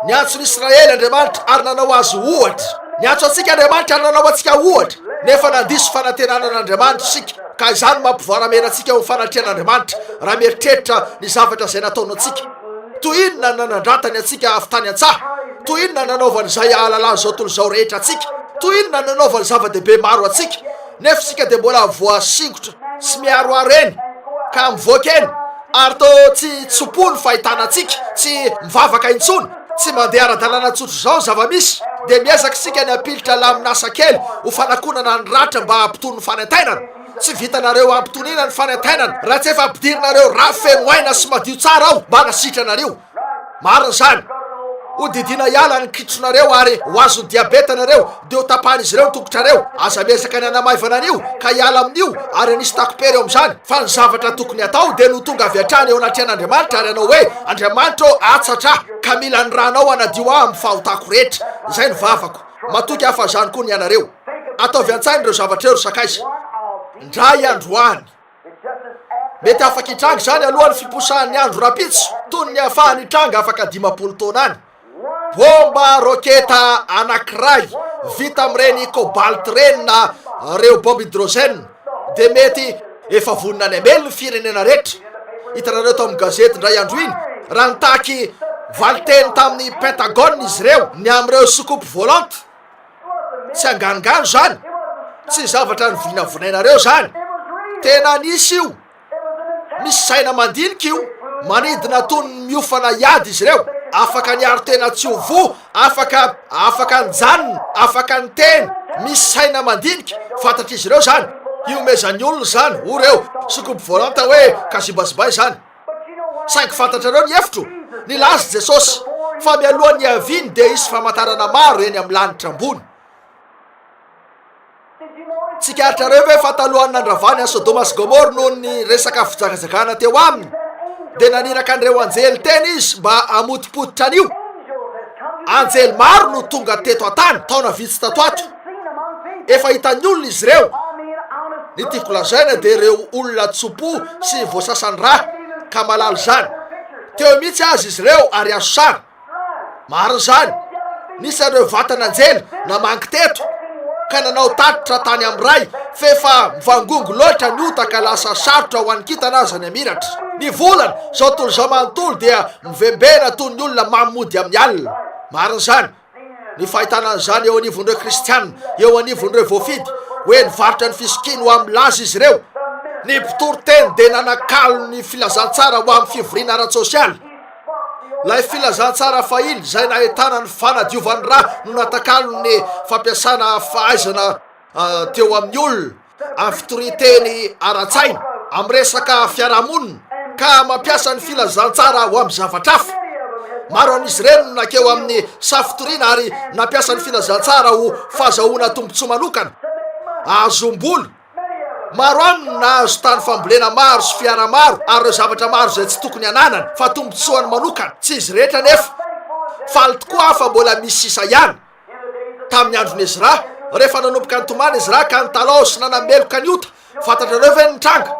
Speaker 2: Niantso ny Israely Andriamanitra ary nanao azy ohatra. Niantso antsika Andriamanitra ary nanao antsika ohatra, nefa nandiso fanantenana an'Andriamanitra isika, ka izany no mampivoaramena antsika eo amin'ny fanatrehan'Andriamanitra, raha mieritreritra ny zavatra izay nataony antsika. Toy inona ny nanandratany antsika avy tany an-tsaha! Toy inona ny nanaovany izay hahalalany izao tontolo izao rehetra antsika! Toy inona ny nanaovany zava-dehibe maro antsika! Nefa isika dia mbola voasingotra sy miharoharo eny ka mivoaka eny ary toa tsy tso-po ny fahitana antsika tsy mivavaka intsony, tsy mandeha ara-dalàna tsotra izao ny zava-misy dia miezaka isika ny hampilitra lamin'asa kely ho fanakonana ny ratra mba hampitony ny fanaintainana. Tsy vitanareo hampitoniana ny fanaintainana raha tsy efa ampidirinareo rafy feno aina sy madio tsara ao mba hanasitranareo. Marina izany. Ho didiana hiala ny kitronareo ary ho azon'ny diabeta ianareo, dia ho tapahan'izy ireo ny tongotrareo. Aza miezaka ny hanamaivana an'io, ka hiala amin'io, ary hanisy takom-pery eo amin'izany. Fa ny zavatra tokony hatao dia ny ho tonga avy hatrany eo anatrehan'Andriamanitra ary hanao hoe, Andriamanitra ô, atsatra ahy, ka mila ny Ranao hanadio ahy amin'ny fahotako rehetra. Izay ny vavako. Matoky ahy fa izany koa ny anareo. Ataovy an-tsaina ireo zavatra ireo, ry sakaiza. Indray andro any. Mety afaka hitranga izany alohan'ny fiposahan'ny andro rahampitso, toy ny niafahany hitranga afaka dimampolo taona any. Bomba roketa anankiray vita amin'ireny cobalt ireny na ireo bomba hydrogène dia mety efa vonona any hamely ny firenena rehetra. Hitanareo tao amin'ny gazety indray andro iny, raha nitaky valinteny tamin'ny Pentagone izy ireo ny amin'ireo soucoupe volante. Tsy anganogano zany, tsy zavatra novinavinainareo zany, tena nisy io, misy saina mandinika io, manidina toy ny miofana hiady izy ireo, afaka niaro tena tsy ho voa, afaka afaka nijanona, afaka niteny, misy saina mandinika, fantatr'izy ireo zany, hiomezan'ny olona zany, hoy ireo, sokobvolanta hoe, kazibazibay zany. Saingy fantatrareo ny hevitro? Nilaza i Jesosy fa mialohan'ny hiaviany dia hisy famantarana maro eny amin'ny lanitra ambony. Tsikaritrareo ve fa talohan'ny nandravany an'i Sodoma sy Gomora noho ny resaka fijagajagana teo aminy, dia naniraka an'ireo anjely teny izy mba hamotopototra an'io? Anjely maro no tonga teto an-tany taona vitsy tato ho ato. Efa hitan'ny olona izy ireo. Ny tiako lazaina dia ireo olona tso-po sy voasasan-dra ka malala izany. Teo mihitsy aza izy ireo ary azo sary. Marina izany. Nisy an'ireo vatan'anjely namangy teto ka nanao tatitra tany amin'ny Ray f'efa mivangongo loatra ny ota ka lasa sarotra ho an'ny kintana aza ny hamiratra. Ny volana, izao tontolo izao manontolo dia mivembena toy ny olona mamy mody amin'ny alina. Marina izany. ny fahitana an'izany eo anivon'ireo kristianina, eo anivon'ireo voafidy, hoe nivarotra ny fisokiany ho amin'ny laza izy ireo. Ny mpitoriteny dia nanakalo ny filazantsara ho amin'ny fivoriana ara-tsosialy. Ilay filazantsara fahiny izay nahitana ny fanadiovan'ny rà no natakalon'ny fampiasana fahaizana ah, teo amin'ny olona. afotoriteny ara-tsaina amin'ny resaka fiarahamonina ka mampiasa ny filazantsara ho amin'ny zavatra hafa. Maro amin'izy ireny no nankeo amin'ny safotoriana ary nampiasa ny filazantsara ho fahazahoana tombontsoa manokana. Ahazom-bola. Maro aminy no nahazo tany fambolena maro sy fiara maro ary ireo zavatra maro izay tsy tokony hananany fa tombontsoany manokana. Tsy izy rehetra anefa. Faly tokoa aho fa mbola misy sisa ihany. tamin'ny andron'i Ezra, rehefa nanomboka nitomany Ezra ka nitalaho sy nanameloka ny ota. Fantatrareo ve ny nitranga?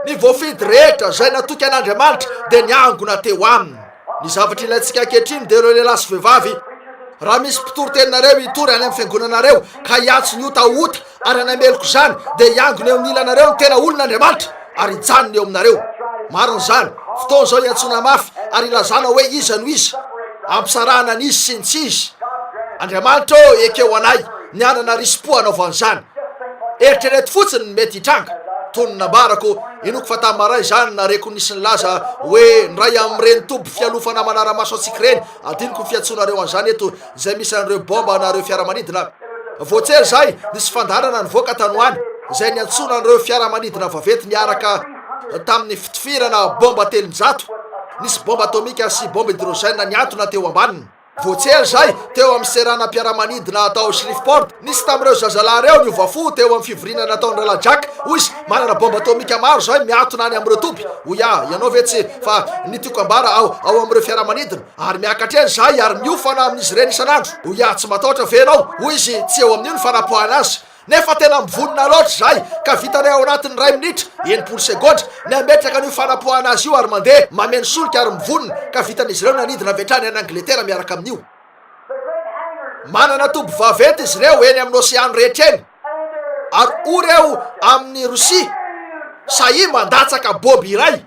Speaker 2: Ny voafidy rehetra izay natoky an'Andriamanitra dia niangona teo aminy. Ny zavatra ilaintsika ankehitriny dia ireo lehilahy sy vehivavy. Raha misy mpitory teninareo hitory any amin'ny fiangonanareo ka hiantso ny ota ho ota, Ary hanameloko izany, dia hiangona eo amin'ny ilanareo ny tena olon' Andriamanitra, ary hijanona eo aminareo. Marina izany. Fotoana izao hiantsoana mafy ary hilazana hoe iza no iza. Ampisarahana ny izy sy ny tsy izy. Andriamanitra ô, ekeo anay ny hanana risi-po hanaovana izany. Eritrereto fotsiny ny mety hitranga. Toy ny nambarako, inoako fa tamin'ny maray izany nareko nisy nilaza hoe ny iray amin'ireny toby fialofana manara-maso antsika ireny, adinoko ny fiantsoanareo an'izany eto, izay misy an'ireo baomba na ireo fiaramanidina any. Vao tsy ela izay, nisy fandaharana nivoaka tany ho any izay niantsoana an'ireo fiaramanidina vaventy niaraka tamin'ny fitifirana baomba telonjato. Nisy baomba atomika sy baomba hydrogène niantona teo ambaniny. Vao tsy ela izay, teo amin'ny seranam-piaramanidina tao Shreveport, nisy tamin'ireo zazalahy ireo niova fo teo amin'ny fivoriana nataon'ny Rahalahy Jack. Hoy izy, Manana baomba atomika maro izay miantona any amin'ireo toby. Hoy aho, Ianao ve tsy fa ny tiako hambara ao ao amin'ireo fiaramanidina? Ary miakatra eny izahay ary miofana amin'izy ireny isan'andro. Hoy aho, Tsy matahotra ve ianao? Hoy izy, Tsy eo amin'io ny fanapoahana azy. Nefa tena mivonona loatra izahay, ka vitanay ao anatin'ny iray minitra, enimpolo segondra, ny hametraka an'io fanapoahana azy io ary mandeha, mameno solika ary mivonona, ka vitan'izy ireo ny hanidina avy hatrany any Angletera miaraka amin'io. Manana toby vaventy izy ireo eny amin'ny oseano rehetra eny, ary ory eo amin'i Rosia, sahia mandatsaka baoby iray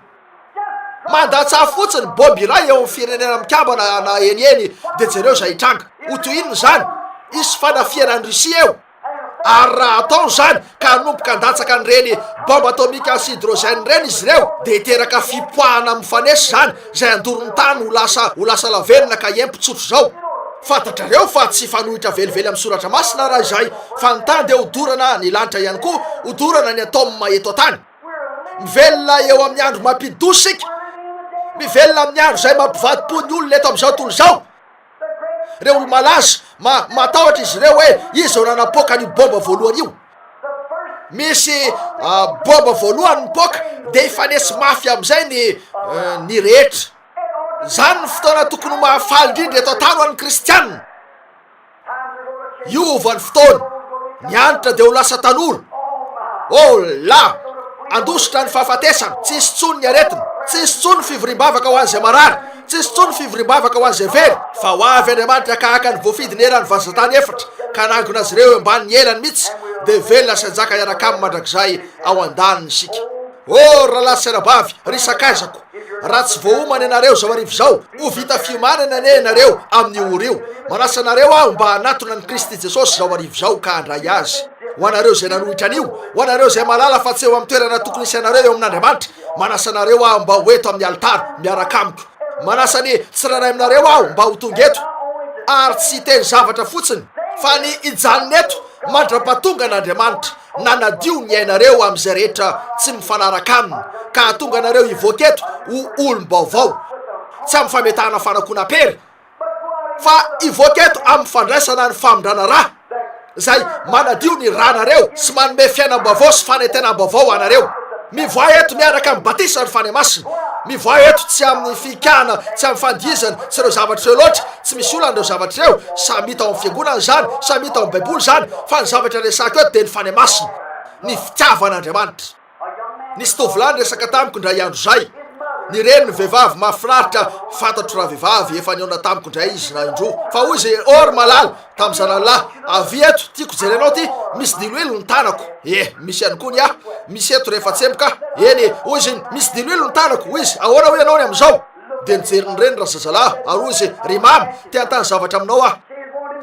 Speaker 2: Mandatsaha fotsiny bob iray eo amin'ny firenena mikambana na eny eny dia jereo izay hitranga. Ho toy inona izany? Hisy fanafihana any Russie eo. Ary raha atao izany ka hanomboka handatsaka an'ireny bombe atomika sy hydrogène ireny izy ireo dia hiteraka fipoahana mifanesy izany izay handoro ny tany ho lasa ho lasa lavenona ka hempo tsotra izao. Fantatrareo fa tsy hifanohitra velively amin'ny soratra masina raha izay fa ny tany dia hodorana, ny lanitra ihany koa hodorana ny atome eto an-tany. Mivelona eo amin'ny andro mampidi-doza isika. Mivelona amin'ny andro izay mampivadi-po ny olona eto amin'izao tontolo izao. Ireo olo-malaza, ma, matahotra izy ireo hoe iza no nanapoaka an'io baomba voalohany io. Misy uh, baomba voalohany mipoaka, dia hifanesy mafy amin'izay ny, uh, ny rehetra. Izany ny fotoana tokony ho mahafaly indrindra eto an-tany ho an'ny Kristianina. Io ho valy fotoana, ny antitra dia ho lasa tanora. Oh la! Handositra ny fahafatesana, tsy hisy intsony ny aretina, tsy hisy intsony ny fivoriam-bavaka ho an'izay marary, tsy hisy intsony ny fivoriam-bavaka ho an'izay very, fa ho avy Andriamanitra haka-haka ny voafidy neran'ny vazan-tany efatra, ka hanangona azy ireo eo ambanin'ny elany mihitsy, dia velona sy hanjaka hiaraka Aminy mandrakizay ao an-daniny isika. Oh ry rahalahy sy anabavy, ry sakaizako, raha tsy voaomana ianareo izao hariva izao, ho vita fiomanana anie ianareo amin'io ora io. Manasa anareo aho mba hanatona an'i Kristy Jesosy izao hariva izao ka handray Azy. Ho anareo izay nanohitra an'io, ho anareo izay mahalala fa tsy eo amin'ny toerana tokony hisianareo eo amin'Andriamanitra, manasa anareo aho mba ho eto amin'ny alitara miaraka amiko. Manasa ny tsirairay aminareo aho mba ho tonga eto, ary tsy hiteny zavatra fotsiny, fa ny hijanona eto Mandra-pahatongan' Andriamanitra nanadio ny ainareo amin' izay rehetra tsy mifanaraka Aminy, ka hahatonga anareo hivoaka eto ho olom-baovao, tsy amin'ny fametahana fanakoanam-pery, fa hivoaka eto amin'ny fandraisana ny famindrana ra, izay manadio ny ranareo sy manome fiainam-baovao sy fanentenam-baovao anareo. Mivoaha eto miaraka amin'ny batisan' ny Fanahy Masina. Mivoaha eto tsy amin'ny fihikahana, tsy amin'ny fandihizana sy ireo zavatra ireo loatra, Tsy misy olana ireo zavatra ireo, samy hita ao amin'ny fiangonana izany, samy hita ao amin'ny baiboly izany, fa ny zavatra resahiko eto dia ny fanahy masina, ny fitiavan'Andriamanitra. Nisy tovolahy niresaka tamiko indray andro izay, ny reniny vehivavy mahafinaritra, fantatro ravehivavy, efa nihaona tamiko indray izy na indroa, fa hoy izy, Oh ry malala, tamin'ny zanany lahy, avia eto, tiako hijery anao ity, misy diloilo ny tanako, ie, misy ihany koa ny ahy, misy eto rehefa tsemboka, eny e, hoy izy iny, misy diloilo ny tanako, hoy izy, ahoana hoy ianao ny amin'izao? Dia nijery ny reniny razazalahy ary hoy izy, Ry Mama, te hanontany zavatra aminao aho.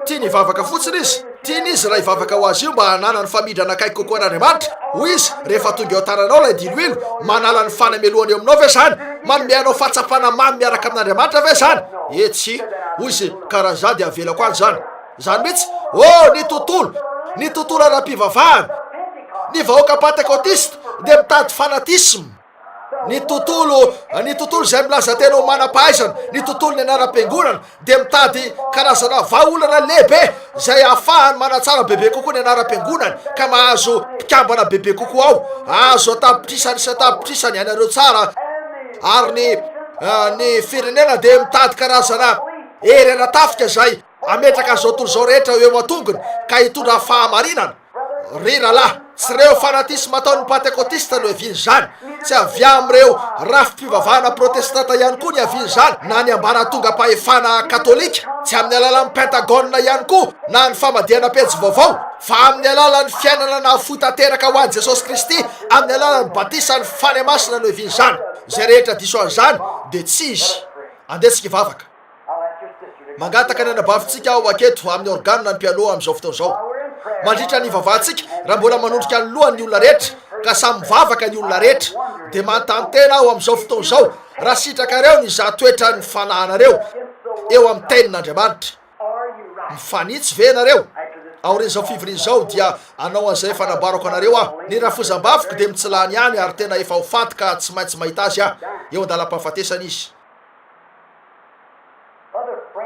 Speaker 2: Tiany hivavaka fotsiny izy. Tiany izy raha hivavaka ho azy io mba hananany famindrana akaiky kokoa an'Andriamanitra. Hoy izy, Rehefa tonga eo an-tananao ilay diloilo, manala ny fanamelohana eo aminao ve izany? Manome anao fahatsapana mamy miaraka amin'Andriamanitra ve izany? Ee, tsia. Hoy izy, Ka raha izaho dia avelako any izany. Izany mihitsy. Oh, ny tontolo! Ny tontolo ara-pivavahana! Ny vahoaka pantekotista dia mitady fanatisma. Ny tontolo, ny tontolo izay milaza tena ho manam-pahaizana, ny tontolon'ny anaram-piangonana dia mitady karazana vahaolana lehibe izay ahafahany manatsara bebe kokoa ny anaram-piangonany ka mahazo mpikambana bebe kokoa ao. Azo an-tapitrisany sy an-tapitrisany ianareo tsara ary ny ah, ny firenena dia mitady karazana hery ara-tafika izay ametraka izao tontolo izao rehetra eo an-tongony ka hitondra fahamarinana. Ry rahalahy, tsy ireo fanatisma ataon'ny Pantekotista no ihavian'izany. Tsy avy amin'ireo rafi-pivavahana protestanta ihany koa ny ihavian'izany, na ny ambaratongam-pahefana katolika, tsy amin'ny alalan'ny Pentagone ihany koa na ny famadihana pejy vaovao, fa amin'ny alalan'ny fiainana nahafoy tanteraka ho an'i Jesosy Kristy amin'ny alalan'ny batisan'ny Fanahy Masina no ihavian'izany. Izay rehetra diso an'izany dia tsy izy. Andeha tsika hivavaka. Mangataka ny anabavintsika ho aketo amin'ny organa ny mpialoha amin'izao fotoana izao. Mandritra ny hivavahantsika, raha mbola manondrika ny lohany ny olona rehetra, ka samy mivavaka ny olona rehetra, dia manontany tena aho amin'izao fotoana izao raha sitrakareo ny hizaha toetran'ny fanahinareo eo amin'ny Tenin'Andriamanitra. Mifanitsy ve ianareo? Aorian'izao fivoriana izao, dia hanao an'izay efa nambarako anareo aho. Ny rafozam-bavoko dia mitsilany ihany, ary tena efa ho faty ka tsy maintsy mahita azy aho, eo an-dalam-pahafatesana izy.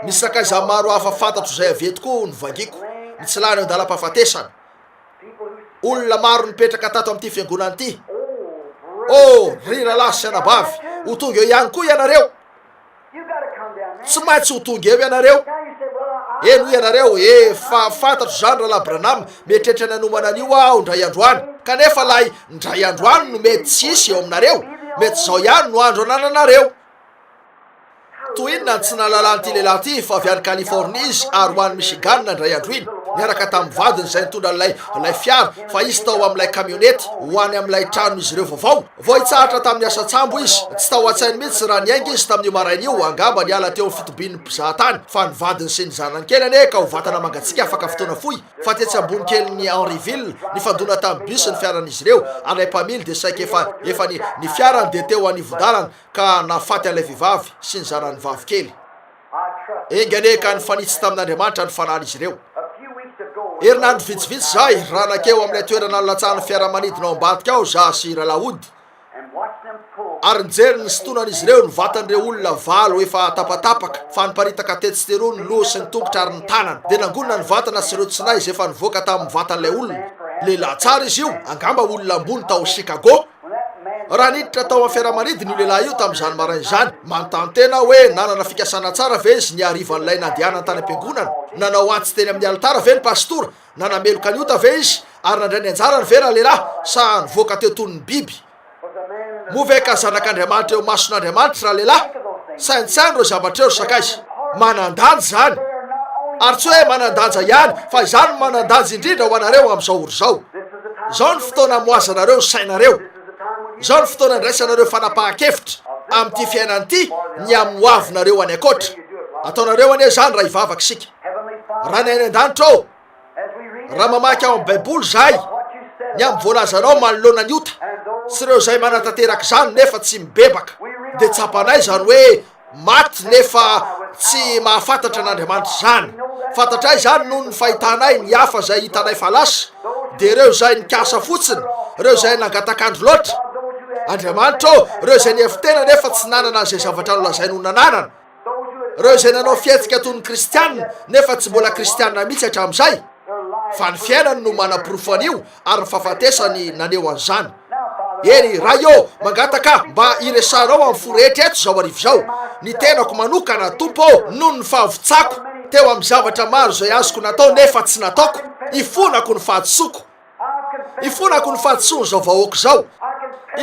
Speaker 2: Misy sakaiza maro hafa fantatro izay avy eto koa no vangiako, ny tsy lany eo an-dalam-pahafatesana. Olona maro nipetraka tato amin'ity fiangonana ity. Oh, ry rahalahy sy anabavy, ho tonga eo ihany koa ianareo. Tsy maintsy ho tonga eo ianareo. Eny, hoy ianareo, efa fantatro izany Rahalahy Branham, mieritreritra ny hanomana an'io aho indray andro any. Kanefa ilay Ndray androany no mety tsy hisy eo aminareo, mety izao ihany no andro anananareo. Toa inona no tsy nahalalan'ity lehilahy ity fa avy any Californie izy ary ho any Michigan indray andro iny, niaraka tamin'ny vadiny izay nitondra an'ilay ilay fiara fa izy tao amin'ilay kamionety ho any amin'ilay tranon'izy ireo vaovao. Vao hitsahatra tamin'ny asa an-tsambo izy. Tsy tao an-tsainy mihitsy raha niainga izy tamin'io maraina io, angamba niala teo amin'ny fitobian'ny mpizahatany, fa ny vadiny sy ny zanany kely anie ka ho vatana mangatsiaka afaka fotoana fohy. Fa tetsy Ambonikelin'i Henryville, nifandona tamin'ny bus ny fiaran'izy ireo, ary ilay mpamily dia saika efa efa ny ny fiarany dia teo anivon-dalana ka nahafaty an'ilay vehivavy sy ny zanany vavy kely. Enga anie ka nifanitsy tamin'Andriamanitra ny fanahiny izy ireo. Herinandro vitsivitsy izay, raha nankeo amin'ilay toerana nilatsahan'ny fiaramanidina ao ambadika ao izaho sy Ralahody, ary nijery ny sintonan'izy ireo ny vatan'ireo olona valo efa tapatapaka fa niparitaka tetsy sy teroa ny loha sy ny tongotra ary ny tanana dia nangonina ny vatana sy ireo tsinay izay efa nivoaka tamin'ny vatan'ilay olona lehilahy tsara izy io angamba olona ambony tao Chicago raha niditra tao amin'ny fiaramanidina io lehilahy io tamin'izany maraina izany manontany tena aho hoe nanana fikasana tsara ve izy ny harivan'ilay nandehanany tany am-piangonana nanao antsy teny amin'ny alitara ve ny pasitora Nanameloka ny ota ve izy ary nandray ny anjarany ve ralehilahy sa nivoaka teo toy ny biby? Moa ve ka zanak'Andriamanitra eo mason'Andriamanitra ralehilahy? Saintsaino ireo zavatra ireo ry sakaiza. Manan-danja izany. Ary tsy hoe manan-danja ihany fa izany no manan-danja indrindra ho anareo amin'izao ora izao. Izao ny fotoana amohazanareo ny sainareo. Izao ny fotoana andraisanareo fanapahan-kevitra amin'ity fiainana ity ny amin'ny hoavinareo any ankoatra. Ataonareo anie izany raha hivavaka isika. Ranay any an-danitra ô, raha mamaky ao amin'ny Baiboly izahay, ny amin'ny voalazanao manoloana ny ota, sy ireo izay manatanteraka izany nefa tsy mibebaka, dia tsapanay izany hoe maty nefa tsy mahafantatra an'Andriamanitra izany. Fantatray izany noho ny fahitanay ny hafa izay hitanay fa lasa, dia ireo izay nikasa fotsiny, ireo izay nangatak'andro loatra. Andriamanitra ô, ireo izay nihevitena nefa tsy nanana izay zavatra nolazainy ho nananana. Ireo izay nanao fihetsika toy ny kristiana nefa tsy mbola kristiana mihitsy hatramin'izay, fa ny fiainany no manaporofo an'io ary ny fahafatesany naneho an'izany. Eny, Ray ô, mangataka aho mba hiresahanao amin'ny fo rehetra eto izao hariva izao, ny tenako manokana, Tompo ô, noho ny fahavontsako teo amin'ny zavatra maro izay azoko natao nefa tsy nataoko, ifonako ny fahadisoako. Ifonako ny fahadisoan'izao vahoaka izao,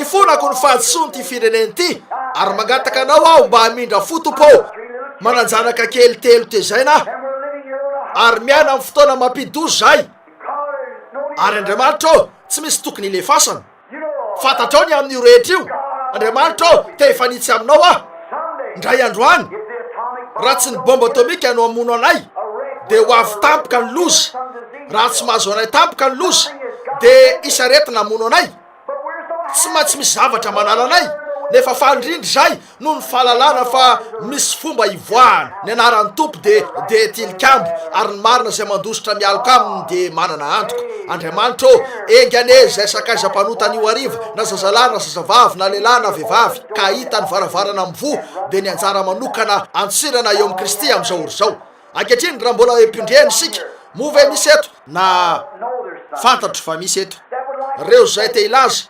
Speaker 2: ifonako ny fahadisoan'ity firenena ity, ary mangataka anao aho mba hamindra fo Tompo ô! Manan-janaka kely telo tezaina aho, ary miaina amin'ny fotoana mampidi-doza izahay, ary Andriamanitra ô! tsy misy tokony hilefasana. Fantatrao ny amin'io rehetra io, Andriamanitra ô, te hifanitsy Aminao aho. Indray andro any, raha tsy ny bomba atomika no hamono anay, dia ho avy tampoka ny loza. Raha tsy mahazo anay tampoka ny loza, dia hisy aretina hamono anay. Tsy maintsy misy zavatra manala anay, nefa faly indrindra izahay Noho ny fahalalana fa misy fomba hivoahana, ny anaran'ny Tompo dia dia tilikambo, ary ny marina izay mandositra mialoka aminy dia manana antoka. Andriamanitra ô, enga anie izay sakaiza mpanota anio hariva, na zazalahy na zazavavy, na lehilahy na vehivavy, ka hahita ny varavarana mivoha, dia ny anjara manokana antsirana eo amin'i Kristy amin'izao ora izao. Ankehitriny, raha mbola empindreny isika, moa ve misy eto, na fantatro fa misy eto, ireo izay te hilaza,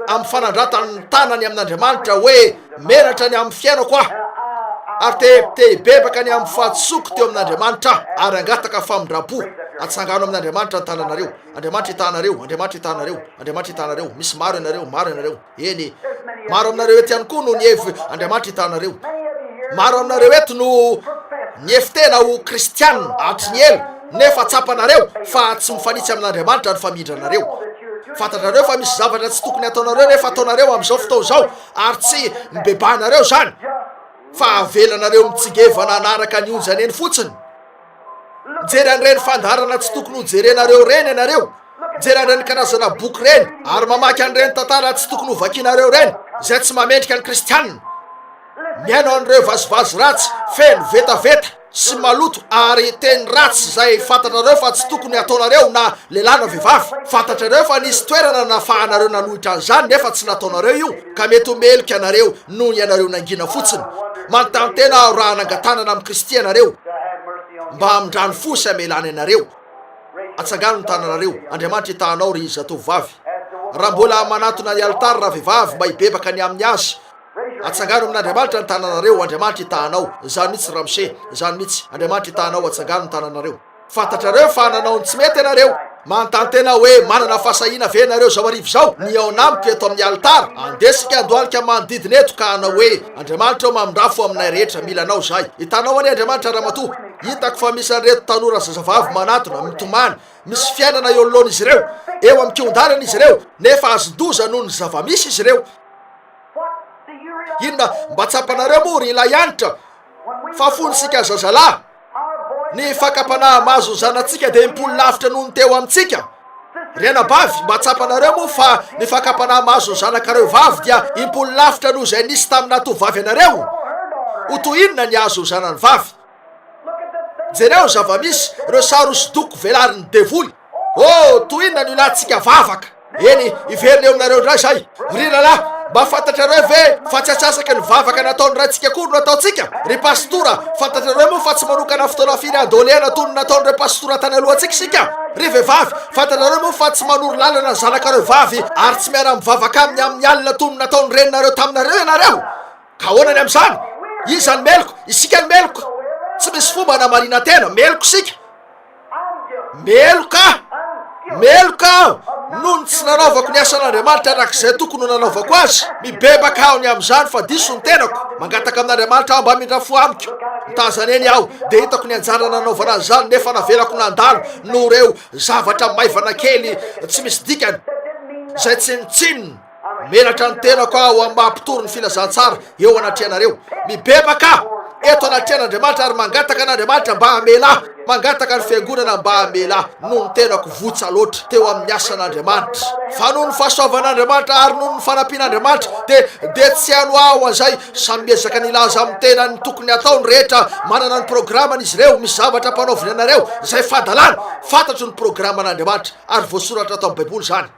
Speaker 2: amin'ny fanandratany ny tanany amin'Andriamanitra hoe, Menatra ny amin'ny fiainako aho, ary te te hibebaka ny amin'ny fahadisoako teo amin'Andriamanitra aho, ary hangataka famindram-po. Atsangano amin'Andriamanitra ny tananareo. Andriamanitra itahanareo, Andriamanitra itahanareo, Andriamanitra itahanareo. Misy maro ianareo, maro ianareo, eny, maro aminareo eto ihany koa no nihev, Andriamanitra itahanareo. Maro aminareo eto no nihevi-tena ho kristiana hatry ny ela. Nefa tsapanareo fa tsy mifanitsy amin'Andriamanitra ny famindranareo. Fantatrareo fa misy zavatra tsy tokony hataonareo nefa ataonareo amin'izao fotoana izao, ary tsy mibebahanareo izany, fa avelanareo mitsingevana hanaraka ny onjany eny fotsiny. Mijery an'ireny fandaharana tsy tokony hojerenareo ireny ianareo, mijery an'ireny karazana boky ireny, ary mamaky an'ireny tantara tsy tokony hovakinareo ireny, izay tsy mamendrika ny Kristianina. Mihaino an'ireo vazivazy ratsy, feno vetaveta. tsy maloto ary teny ratsy zay fantatrareo fa tsy tokony ataonareo na lehilahy na vehivavy fantatrareo fa nisy toerana nafahanareo nanohitra an'izany nefa tsy nataonareo io ka mety ho meloka anareo noho ianareo nangina fotsiny manontantena aho raha nangatanana amin'i Kristy ianareo mba hamindrany fo sy hamelany anareo atsangano ny tananareo Andriamanitra hitahanao ry zatovovavy raha mbola manatona ny alitara ravehivavy mba hibebaka ny amin'ny azy Atsangano amin'Andriamanitra ny tananareo, ho Andriamanitra itahanao. Izany mihitsy Ramsey, izany mihitsy, Andriamanitra itahanao, atsangano ny tananareo. Fantatrareo fa nanao ny tsy mety ianareo. Manontany tena hoe, Manana fahasahiana ve ianareo izao hariva izao, ny hihaona amiko eto amin'ny alitara? Andeha isika handohalika ny manodidina eto, ka hanao hoe, Andriamanitra ô, mamindrafo aminay rehetra, mila Anao izahay. Hitanao anie, Andriamanitra Ramatoa, hitako fa misy an'ireto tanora zazavavy manatona, mitomany, misy fiainana eo anoloan'izy ireo. Eo amin'ny kihon-dalana izy ireo, nefa azon-doza noho ny zava-misy izy ireo. Inona mba tsapanareo moa ry Ilay Hanitra fa fony isika zazalahy? Ny fakam-panahy mahazo ny zanatsika dia mipolo lavitra noho ny teo amintsika. Ry anabavy, mba tsapanareo moa fa ny fakam-panahy mahazo ny zanakareo vavy dia impolo lavitra noho izay nisy taminà tovovavy anareo? Ho toy inona ny hahazo ny zanany vavy? Jereo ny zava-misy, ireo sary hosodoko velarin'ny devoly. Oh, tohina ny latsika vavaka. Eny, hiverina eo aminareo indray izay. Ry rahalahy, mba fantatrareo ve fa tsy atsasaka ny vavaka nataon'ny raintsika koa no nataontsika? Ry pastora, fantatrareo moa fa tsy manokana fotoana firy handolehana toy ny nataon'ireo pastora tany alohantsika isika? Ry vehivavy, fantatrareo moa fa tsy manoro lalana ny zanakareo vavy ary tsy miara-mivavaka aminy amin'ny alina toy ny nataon'ny reninareo taminareo ianareo? Ka ahoana ny amin'izany? Iza no meloka? Isika no meloka. Tsy misy fomba hanamarinan-tena. Meloka isika. Meloka aho! Meloka aho! Noho ny tsy nanaovako ny asan'Andriamanitra araka izay tokony ho nanaovako azy, mibebaka aho ny amin'izany fa diso ny tenako. Mangataka amin'Andriamanitra aho mba hamindra fo amiko. Nitazana eny aho, dia hitako ny anjara nanaovana an'izany, nefa navelako nandalo noho ireo zavatra maivana kely tsy misy dikany, izay tsinontsinona. Menatra ny tenako aho amin'ny maha mpitory ny filazantsara eo anatrehanareo. Mibebaka aho eto anatrehan'Andriamanitra ary mangataka an'Andriamanitra mba hamela ahy, mangataka ny fiangonana mba hamela ahy noho ny tenako votsa loatra teo amin'ny asan'Andriamanitra. Fa noho ny fahasoavan'Andriamanitra ary noho ny fanampian'Andriamanitra dia dia tsy hano aho an'izay. Samy miezaka ny hilaza amin'ny tenany ny tokony hatao ny rehetra, manana ny programany izy ireo, misy zavatra ampanaoviny anareo izay fadalana. Fantatro ny programan'Andriamanitra ary voasoratra ato amin'ny Baiboly izany.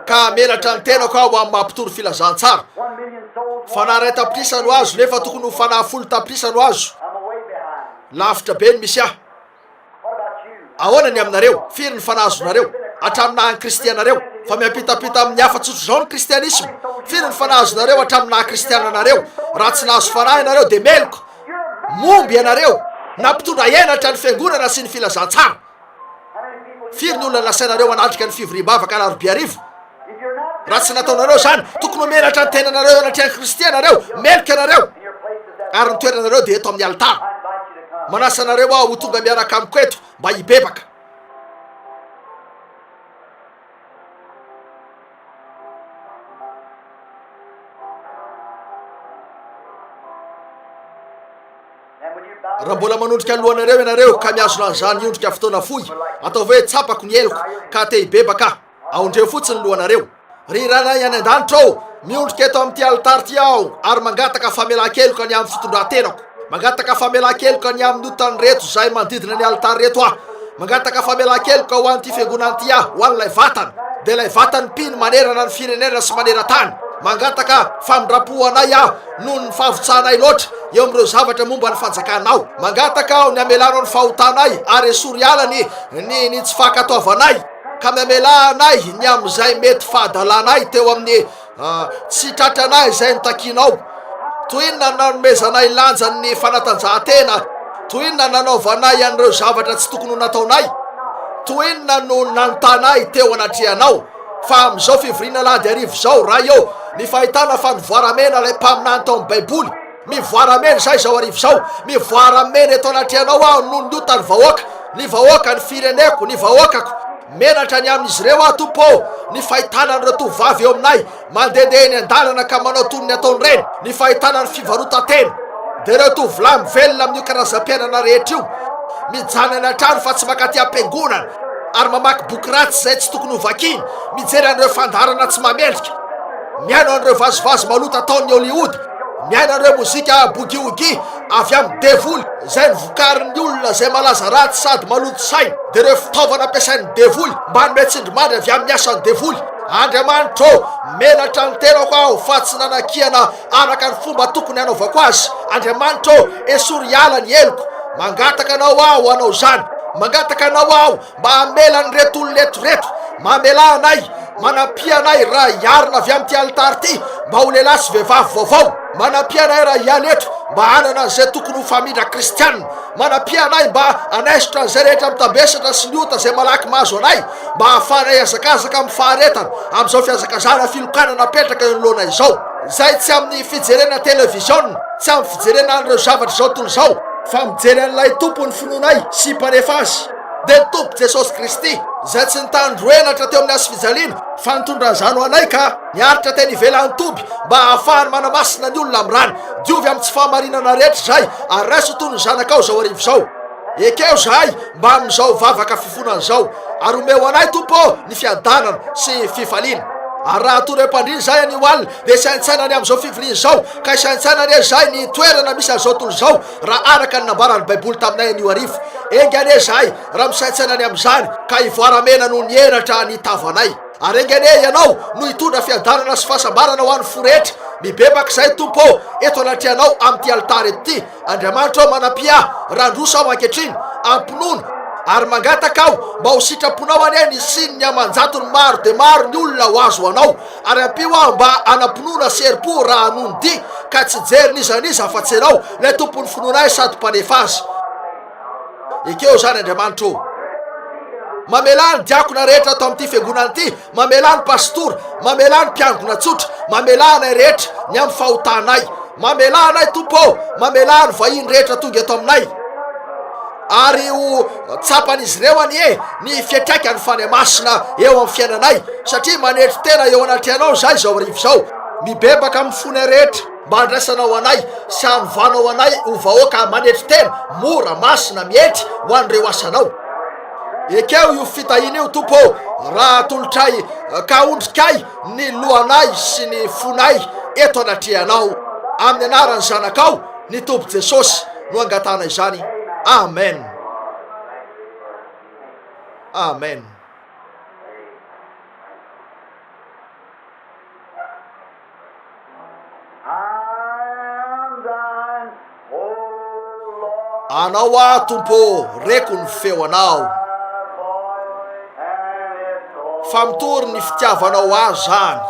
Speaker 2: Ka hamelatra ny tenako aho amin'ny maha mpitory filazantsara. Fanahy iray tapitrisa no azo nefa tokony ho fanahy folo tapitrisa no azo. Lavitra be ny misy ahy. Ahoana ny aminareo? Firy ny fanahy azonareo? Hatramin'ny naha an'i Kristy anareo. Fa miampitampita amin'ny hafa tsotra izao ny kristianisma. Firy ny fanahy azonareo hatramin'ny naha kristiana anareo? Raha tsy nahazo fanahy ianareo dia meloka. Momba ianareo na mpitondra henatra ny fiangonana sy ny filazantsara. Firy ny olona nasainareo hanatrika ny fivoriam-bavaka alarobia hariva? Raha tsy nataonareo izany, tokony homenatra ny tenanareo eo anatrehan'i Kristy ianareo, meloka ianareo, ary ny toeranareo dia eto amin'ny alitara. Manasa anareo aho ho tonga miaraka amiko eto mba hibebaka. raha mbola manondrika ny lohanareo ianareo ka miazona an'izany ondrika fotoana fohy atao hoe tsapako ny eloko ka te hibebaka aondreo fotsiny ny lohanareo ry ranay any an-danitra ao miondrika eto amin'ity alitary ity aho ary mangataka famelan-keloka ny amin'ny fitondran-tenako Mangataka famelan-keloka ny amin'ny otan'ny reto izay manodidina ny alitara reto aho. Mangataka famelan-keloka ho an'ity fiangonana ity aho, ho an'ilay vatana, dia ilay vatany mpino manerana ny firenena sy maneran-tany. Mangataka famindram-po ho anay aho noho ny fahavitsanay loatra eo amin'ireo zavatra momba ny Fanjakanao. Mangataka aho ny hamelanao ny fahotanay ary esory alany ny ny tsy fankatoavanay, ka mihamela anay ny amin'izay mety fahadalanay teo amin'ny Tsy tratranay izay no takianao. Toy inona no nanomezanay lanja ny fanatanjahantena? Toy inona no nanaovanay an'ireo zavatra tsy tokony ho nataonay? Toy inona no nanontanay teo anatrehanao? Fa amin'izao fivoriana alahady hariva izao, Ray ô, ny fahitana fanovoara-mena ilay mpaminany tao amin'ny Baiboly, Mivoara amen zah izao arivo izao mivoara amen eto anatrehanao aho noho ny ota ny vahoaka ny vahoaka ny fireneko ny vahoakako menatra ny amin'izy ireo aho tompo ô ny fahitana an'ireo tovovavy eo aminay mandehandeha eny an-dalana ka manao toy ny ataony ireny ny fahitana ny fivarotan-tena dia ireo tovolahy mivelona amin'io karazam-piainana rehetra io mijanany an-trano fa tsy makaty am-piangonana ary mamaky boky ratsy izay tsy tokony ho vakiny mijery an'ireo fandaharana tsy mamendrika mihaino an'ireo vazivazy malota ataon'ny Hollywood Miaina ireo mozika boogie-woogie avy amin'ny devoly izay novokarin'ny olona izay malaza ratsy sady maloto saina, dia ireo fitaovana ampiasain'ny devoly mba hanome tsindrimandry avy amin'ny asan'ny devoly. Andriamanitro ô, menatra ny tenako aho fa tsy nanakiana araka ny fomba tokony hanaovako azy. Andriamanitro ô, esory hiala ny heloko. Mangataka Anao aho hanao izany. Mangataka Anao aho Mba hamela an'ireto olona eto ireto mamelà anay, manampia anay raha hiarina avy amin'ity alitara ity mba ho lehilahy sy vehivavy vaovao. Manampia anay raha hiala eto mba hanana an'izay tokony ho famindra kristianina. Manampia anay mba hanaisotra an'izay rehetra mitambesatra sy ny ota izay malaky mahazo anay, mba hahafahanay hiazakazaka amin'ny faharetana amin'izao fihazakazahana filokana napetraka eo anoloanay izao. Izay tsy amin'ny fijerena televiziona, tsy amin'ny fijerena an'ireo zavatra izao tontolo izao, fa mijery an'ilay Tompon'ny finoanay sy Mpanef'azy. Dia Tompo Jesosy Kristy, Izay tsy nitandro henatra teo amin'ny hazofijaliana, fa nitondra an'izany ho anay ka niaritra teny ivelan'ny toby, mba hahafahany manamasina ny olona amin'ny rany. Diovy amin'ny tsy fahamarinana rehetra izay, ary raiso ho toy ny zanakao izao hariva izao. Ekeo izahay mbamin'izao vavaka fifonana izao, ary omeo anay, Tompo ô, ny fiadanana sy fifaliana. Ary raha hatory am-pandriana izahay anio alina, dia hisaintsaina ny amin'izao fivoriana izao, ka hisaintsaina anie izahay ny toerana misy an'izao tontolo izao, Raha araka ny nambaran'ny Baiboly taminay anio hariva, enga anie izahay raha misaintsaina ny amin'izany ka hivoaramena noho ny henatra ny tavanay. Ary enga anie Ianao no hitondra fiadanana sy fahasambarana ho an'ny fo rehetra. Mibebaka izahay, Tompo ô, eto anatrehanao amin'ity alitara eto ity. Andriamanitra ô, manampia ahy raha handroso aho ankehitriny. Ampinono ary mangataka aho mba ho sitraponao anie ny hisian'ny aman-jatony maro dia maro ny olona ho azy ho Anao. Ary ampio aho mba hanam-pinoana sy herim-po raha hanohy ny dihy, ka tsy hijery n'iza n'iza afa-tsy Ianao, ilay Tompon'ny finoana ahy sady Mpanefa azy. Ekeo izany, Andriamanitra ô. Mamelà ny diakona rehetra ato amin'ity fiangonana ity, mamelà ny pastora, mamelà ny mpiangona tsotra, mamelà anay rehetra, ny amin'ny fahotanay. Mamelà anay, Tompo ô, mamelà ny vahiny rehetra tonga eto aminay. Ary ho tsapan'izy ireo anie ny fiantraikan'ny Fanahy Masina eo amin'ny fiainanay, satria manetry tena eo anatrehanao izahay izao hariva izao, mibebaka amin'ny fonay rehetra, mba handraisanao anay sy hanovanao anay ho vahoaka manetry tena, mora, masina, mietry ho an'ireo asanao. Ekeo io fitahiana io, Tompo ô, raha atolotray, ka ondrikay ny lohanay sy ny fonay eto anatrehanao, amin'ny anaran'ny Zanakao, Ny Tompo Jesosy no angatahana izany Amen Amen. Anao aho Tompo ô, reko ny feo Anao. Fa mitory ny fitiavanao ahy zany.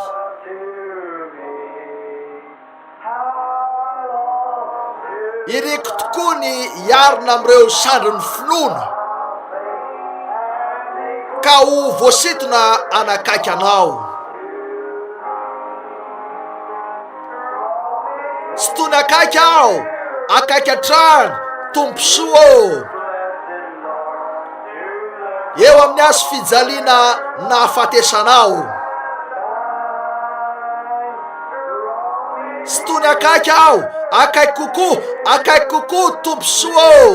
Speaker 2: Iriko tokoa ny hiarina amin'ireo sandrin'ny finoana, ka ho voasintona hanakaiky anao. Tsy tony akaiky aho, akaiky hatrany, Tomposoa ô. eo amin'ny azo fijaliana nahafatesana aho. Tsy tony akaiky aho, akaiky kokoa, akaiky kokoa tomposoa ô.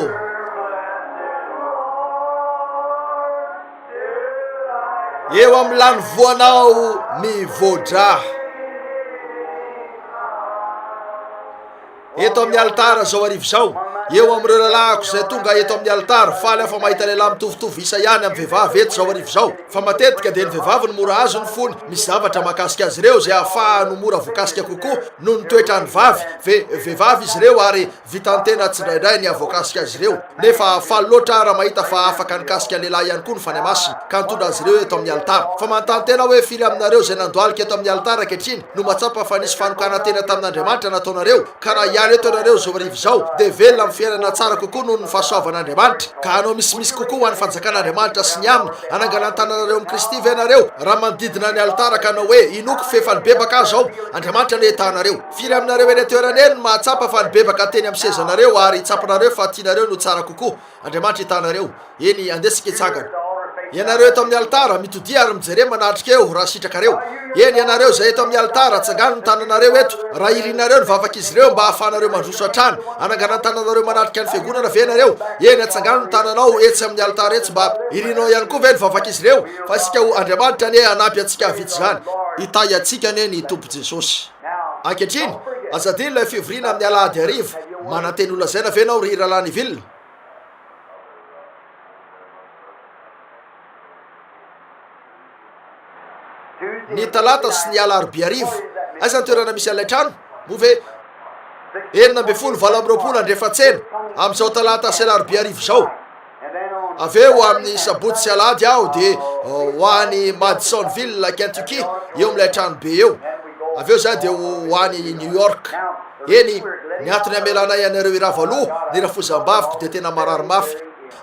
Speaker 2: Eo amin'ny lany voanao mivodraha. eto amin'ny alitara izao arivo izao, eo amin'ireo lalahako izay tonga eto amin'ny alitara, faly aho fa mahita lehilahy mitovitovy isa ihany amin'ny vehivavy eto izao arivo izao, fa matetika dia ny vehivavy no mora azo ny fony misy zavatra mahakasika azy ireo izay hahafahany ho mora voakasika kokoa noho ny toetran'ny vavy, ve, vehivavy izy ireo ary vitan-tena tsindraindray ny hahavoakasika azy ireo, nefa faly loatra aho raha mahita fa afaka nikasika ny lehilahy ihany koa ny Fanahy Masina ka nitondra azy ireo eto amin'ny alitara, fa manontany tena aho hoe firy aminareo izay nandohalika eto amin'ny alitara ankehitriny? no matsapa fa nisy fanokanan-tena tamin'Andriamanitra nataonareo, ka raha hiala eto ianareo izao hariva izao, dia velona amin'ny fiainana tsara kokoa noho ny fahasoavan'Andriamanitra, ka hanao misimisy kokoa ho an'ny fanjakan'Andriamanitra sy ny aminy, hanangana ny tananareo amin'i Kristy ve ianareo, raha manodidina ny alitara ka hanao hoe, Inoako f'efa nibebaka aho izao, Andriamanitra anie ta anareo. Firy aminareo eny an-toerana eny no mahatsapa fa nibebaka teny amin'ny sezanareo ary tsapanareo fa tianareo no tsara kokoa? Andriamanitra hitanareo. Eny, andesika hitsangana. Ianareo eto amin'ny alitara, mitodia ary mijere manatrika eo raha sitrakareo. Eny, ianareo izay eto amin'ny alitara, tsangano ny tananareo eto, raha irinareo ny vavak'izy ireo mba hahafahanareo mandroso hatrany. Hanangana ny tananareo manatrika ny Fiangonana ve ianareo? Eny, atsangano ny tananao etsy amin'ny alitara etsy mba. Irinao ihany koa ve ny vavak'izy ireo? Fa isika ho. Andriamanitra anie hanampy antsika hahavita izany. Hitahy antsika anie ny Tompo Jesosy. Ankehitriny, aza adino ilay fivoriana amin'ny alahady hariva. Manantena ho lazaina ve ianao ry Rahalahy Neville? Ny talata sy ny alarobia hariva. Aiza ny toerana misy an'ilay trano? Moa ve enina ambin'ny folo valo amby roapolo andrefantsena, amin'izao talata sy alarobia hariva izao? Avy eo amin'ny sabotsy sy alahady aho dia ho any Madisonville, Kentucky, eo amin'ilay tranobe eo. Avy eo izaho dia ho any New York. Eny, ny antony hamelanay anareo hirava loha ny rafozam-baviko dia tena marary mafy,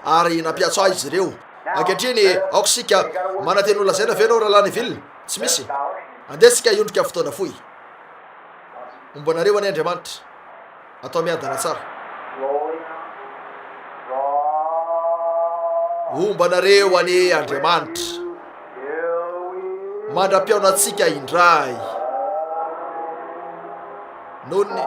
Speaker 2: ary nampiantso ahy izy ireo. Ankehitriny, aoka isika, manantena holazaina ve ianao Rahalahy Neville? Tsy misy. Andeha isika hiondrika fotoana fohy. Homba anareo anie Andriamanitra. Atao miadana tsara. Homba anareo anie Andriamanitra. Mandra-pihaona antsika indray. Nony.